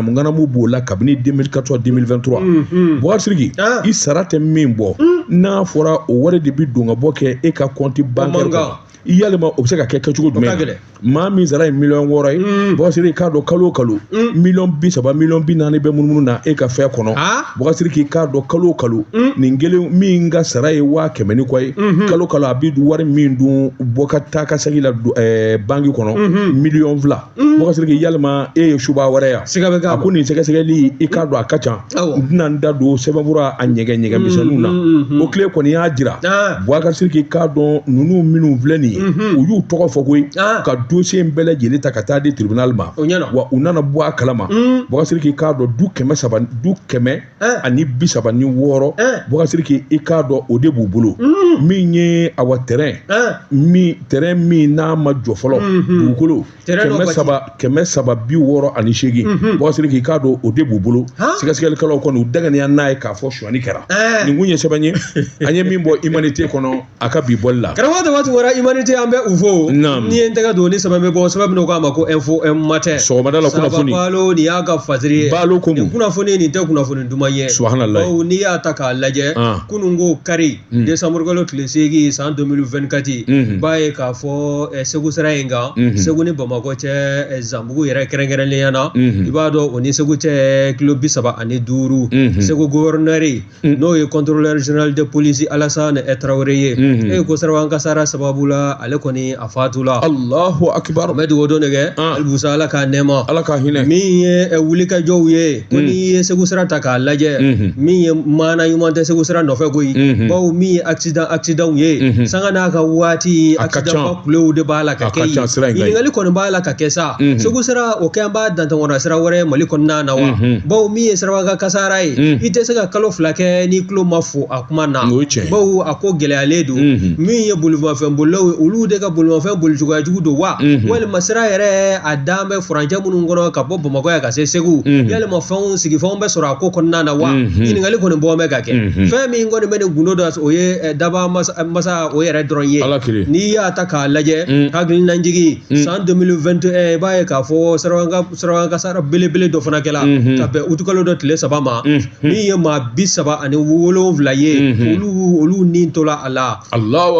nganamu b'o la kabini 2014 2023 mm, mm. buwakari siriki ah. i sara tɛ min bɔ mm. n'a fɔra o wari de bi don ka bɔ kɛ e ka compte bancaire kɔnɔ i yalima o bɛ se ka kɛ kɛcogo jumɛn na maa min sara ye miliyɔn wɔɔrɔ ye mm. buwakari siriki k'a dɔn kalo o kalo mm. miliyɔn bi saba miliyɔn bi naani bɛ munumunu na e ka fɛn kɔnɔ ah. buwakari siriki k'a dɔn kalo o kalo mm. nin kelen min ka sara ye waa kɛmɛ ni kɔ ye mm-hmm. kalo kalo a bɛ wari min don bɔ ka taa ka segin la ɛɛ banki kɔnɔ mm-hmm. miliyɔn fila Mm. buwakari siriki yalima e ye suba wɛrɛ yan siga bɛ k'a ko nin sɛgɛsɛgɛli i k'a dɔn a ka ca n tɛna n da don sɛbɛnfura a ɲɛgɛn ɲɛgɛn mm, misɛnninw na mm, OCLEI kɔni y'a jira ah. buwakari siriki k'a dɔn ninnu minnu filɛ nin ye mm-hmm. u y'u tɔgɔ fɔ koyi ah. ka dosiye in bɛɛ lajɛlen ta ka taa di tribunal ma wa u nana bɔ a kalama buwakari siriki k'a dɔn du kɛmɛ saba du kɛmɛ ani bi saba ni wɔɔrɔ buwakari siriki i k'a dɔn o de b'u bolo mm. min ye awa terrain min terrain min n'a ma jɔ fɔlɔ mm-hmm. dugukolo kɛmɛ saba kɛmɛ saba bi wɔɔrɔ ani seegin mm-hmm. buwakari siriki k'a dɔn o de b'u bolo sɛgɛsɛgɛlikɛlaw kɔni u dɛgɛniya n'a ye k'a fɔ sonyani kɛra nin kun ye sɛbɛn ye an ye min bɔ humanité kɔnɔ a ka bi bɔli la karamɔgɔ dama tun bɔra humanité an bɛ u fo n'i ye n tɛgɛ don ni sɛbɛn bɛ bɔ sɛbɛn min n'an k'a ma ko info matin sɔgɔmada la kunnafoni balo nin y'a ka fasiri ye balo ko nin kunnafoni nin tɛ kunnafoni duman ye subahanalayi bawo n'i y'a ta k'a lajɛ kunun ko kari mm. desanburu kalo tile seegin san 2024 mm-hmm. i b'a ye k'a fɔ eh, segu sira in kan mm-hmm. segu ni bamakɔ cɛ eh, zanbugu yɛrɛ kɛrɛnkɛrɛnnenya na mm-hmm. i b'a dɔn o ni segu cɛ kilo bi saba ani duuru segu gouverneur Mm. n'o ye contrôleur général de police Alassane Traoré ye mm-hmm. e ko siraba kan kasara sababu la ale kɔni a fatula Allahu akbar n bɛ dugawu don de kɛ ah. Alibusa Ala k'a nɛɛma Ala k'a hinɛ min ye eh, wulikajɔw ye ko mm. n'i ye Segu sira ta k'a lajɛ mm-hmm. min ye maana ɲuman tɛ Segu sira nɔfɛ koyi mm-hmm. bawo min ye accident accidentw ye sanga n'a ka waati accident kulew de b'a la ka kɛ yen ɲininkali kɔni b'a la ka kɛ sa segu sira o kɛ an b'a dantɛmɔna sira wɛrɛ mali kɔnɔna na wa bawo min ye siraba kan kasara ye i tɛ se ka kalo fila kɛ n'i tulo ma fo a kuma na bawo a ko gɛlɛyalen don min ye bolifɛn bolilaw ye olu de ka bolifɛn boli cogoya jugu don wa walima sira yɛrɛ a dan bɛ furancɛ minnu kɔnɔ ka bɔ bamakɔ yan ka se segu walima fɛnw sigifɛnw bɛ sɔrɔ a ko kɔnɔna na wa ɲininkali kɔni bɔ bɛ ka kɛ fɛn min kɔni bɛ nin gundo dɔn o ye dabaa masa o yɛrɛ dɔrɔn ye ala kelen n'i y'a ta k'a lajɛ hakilinajigi san 2021 i b'a ye k'a fɔ siraba kan kasara belebele dɔ fana kɛla ka bɛn utukalo dɔ tile saba ma min ye maa bi saba ani wolonwula ye olu ni tola a la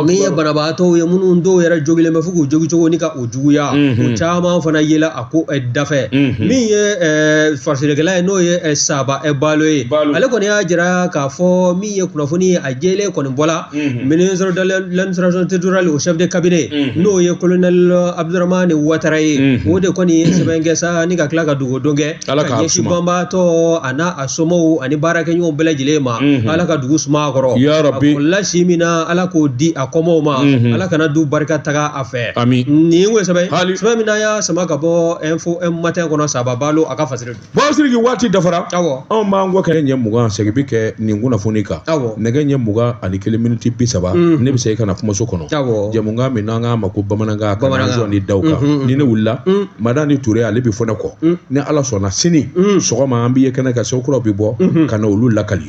min ye banabaatɔ ye minnu dɔw yɛrɛ jogilen bɛ fo k'u jogi cogo ni ka o juguya o caman fana yela a ko eh, dafɛ mhm. min ye eh, fasirikɛla ye n'o ye eh, saba balo ye ale kɔni y'a jira k'a fɔ min ye kunnafoni ye a jɛlen kɔni bɔla mhm. ministre de l'administration territoriale o chef de cabinet mhm. n'o ye colonel abdurahmane watara ye o de kɔni ye sɛbɛn kɛ sa ni ka tila ka dugawudon kɛ ka ɲɛsin banbaatɔ a n'a a somɔgɔw ani baarakɛɲɔgɔnw bɛɛ lajɛlen ma ala ka dugu suma a kɔrɔ a kɔlila si min na ala k'o di a kɔmɔw ma ala kana du barika taga a fɛ amiini kosɛbɛ hali sɛbɛn min n'an y'a sama ka bɔ info matin kɔnɔ saba balo a ka fasiri don bon siriki waati dafara awɔ anw b'an kɔ kɛ ɲɛ mugan segin bi kɛ nin kunnafoni kan awɔ nɛgɛ ɲɛ mugan ani kelen miniti bi saba mhm. ne bɛ segin ka na kumaso kɔnɔ awɔ jɛmukan min n'an k'a ma ko bamanankan kanazɔn ni daw kan mhm, mhm. ni ne wulila madani ture ale bɛ fɔ ne kɔ ni ala sɔnna sini sɔgɔma an b'i ye kɛnɛ kan sa ko kuraw bɛ bɔ ka na olu lakali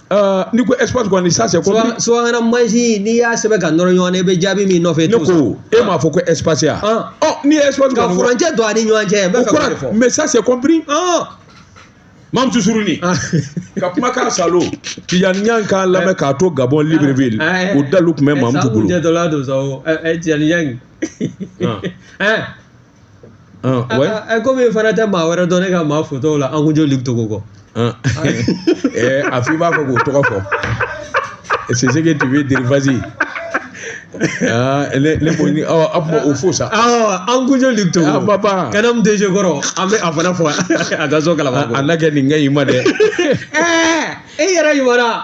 Ah, n'i ko espace kɔni ça c'est compris subahana mansi n'i y'a sɛbɛn ka nɔrɔ ɲɔgɔn na i bɛ jaabi min nɔfɛ ne ko e m'a fɔ ko espace ya ah. ɔ oh, n'i ye espace ka furancɛ don a ni ɲɔgɔn cɛ n bɛ fɛ k'o de fɔ mais ça c'est compris ah. mamutu suruni ah. ka kuma k'a salo tijani yan k'a lamɛn k'a to gabɔn libreville eh, eh. o dalu tun bɛ eh, mamutu bolo. ɛ sa o jɛtɔla don sa o ɛ tijani yan. Ɛ komi n fana tɛ maa wɛrɛ dɔn ne ka maa fotaw la Ankoundio Luc Togo kɔ a fɔ i b'a fɔ k'o tɔgɔ fɔ c'est ce que tu veux dire vas-y ne ko n bɛ o fo sa Ankoundio Luc Togo papa CANAM DG kɔrɔ an bɛ a fana fo a ka so kala a na kɛ nin kɛ i ma dɛ e yɛrɛ ɲuman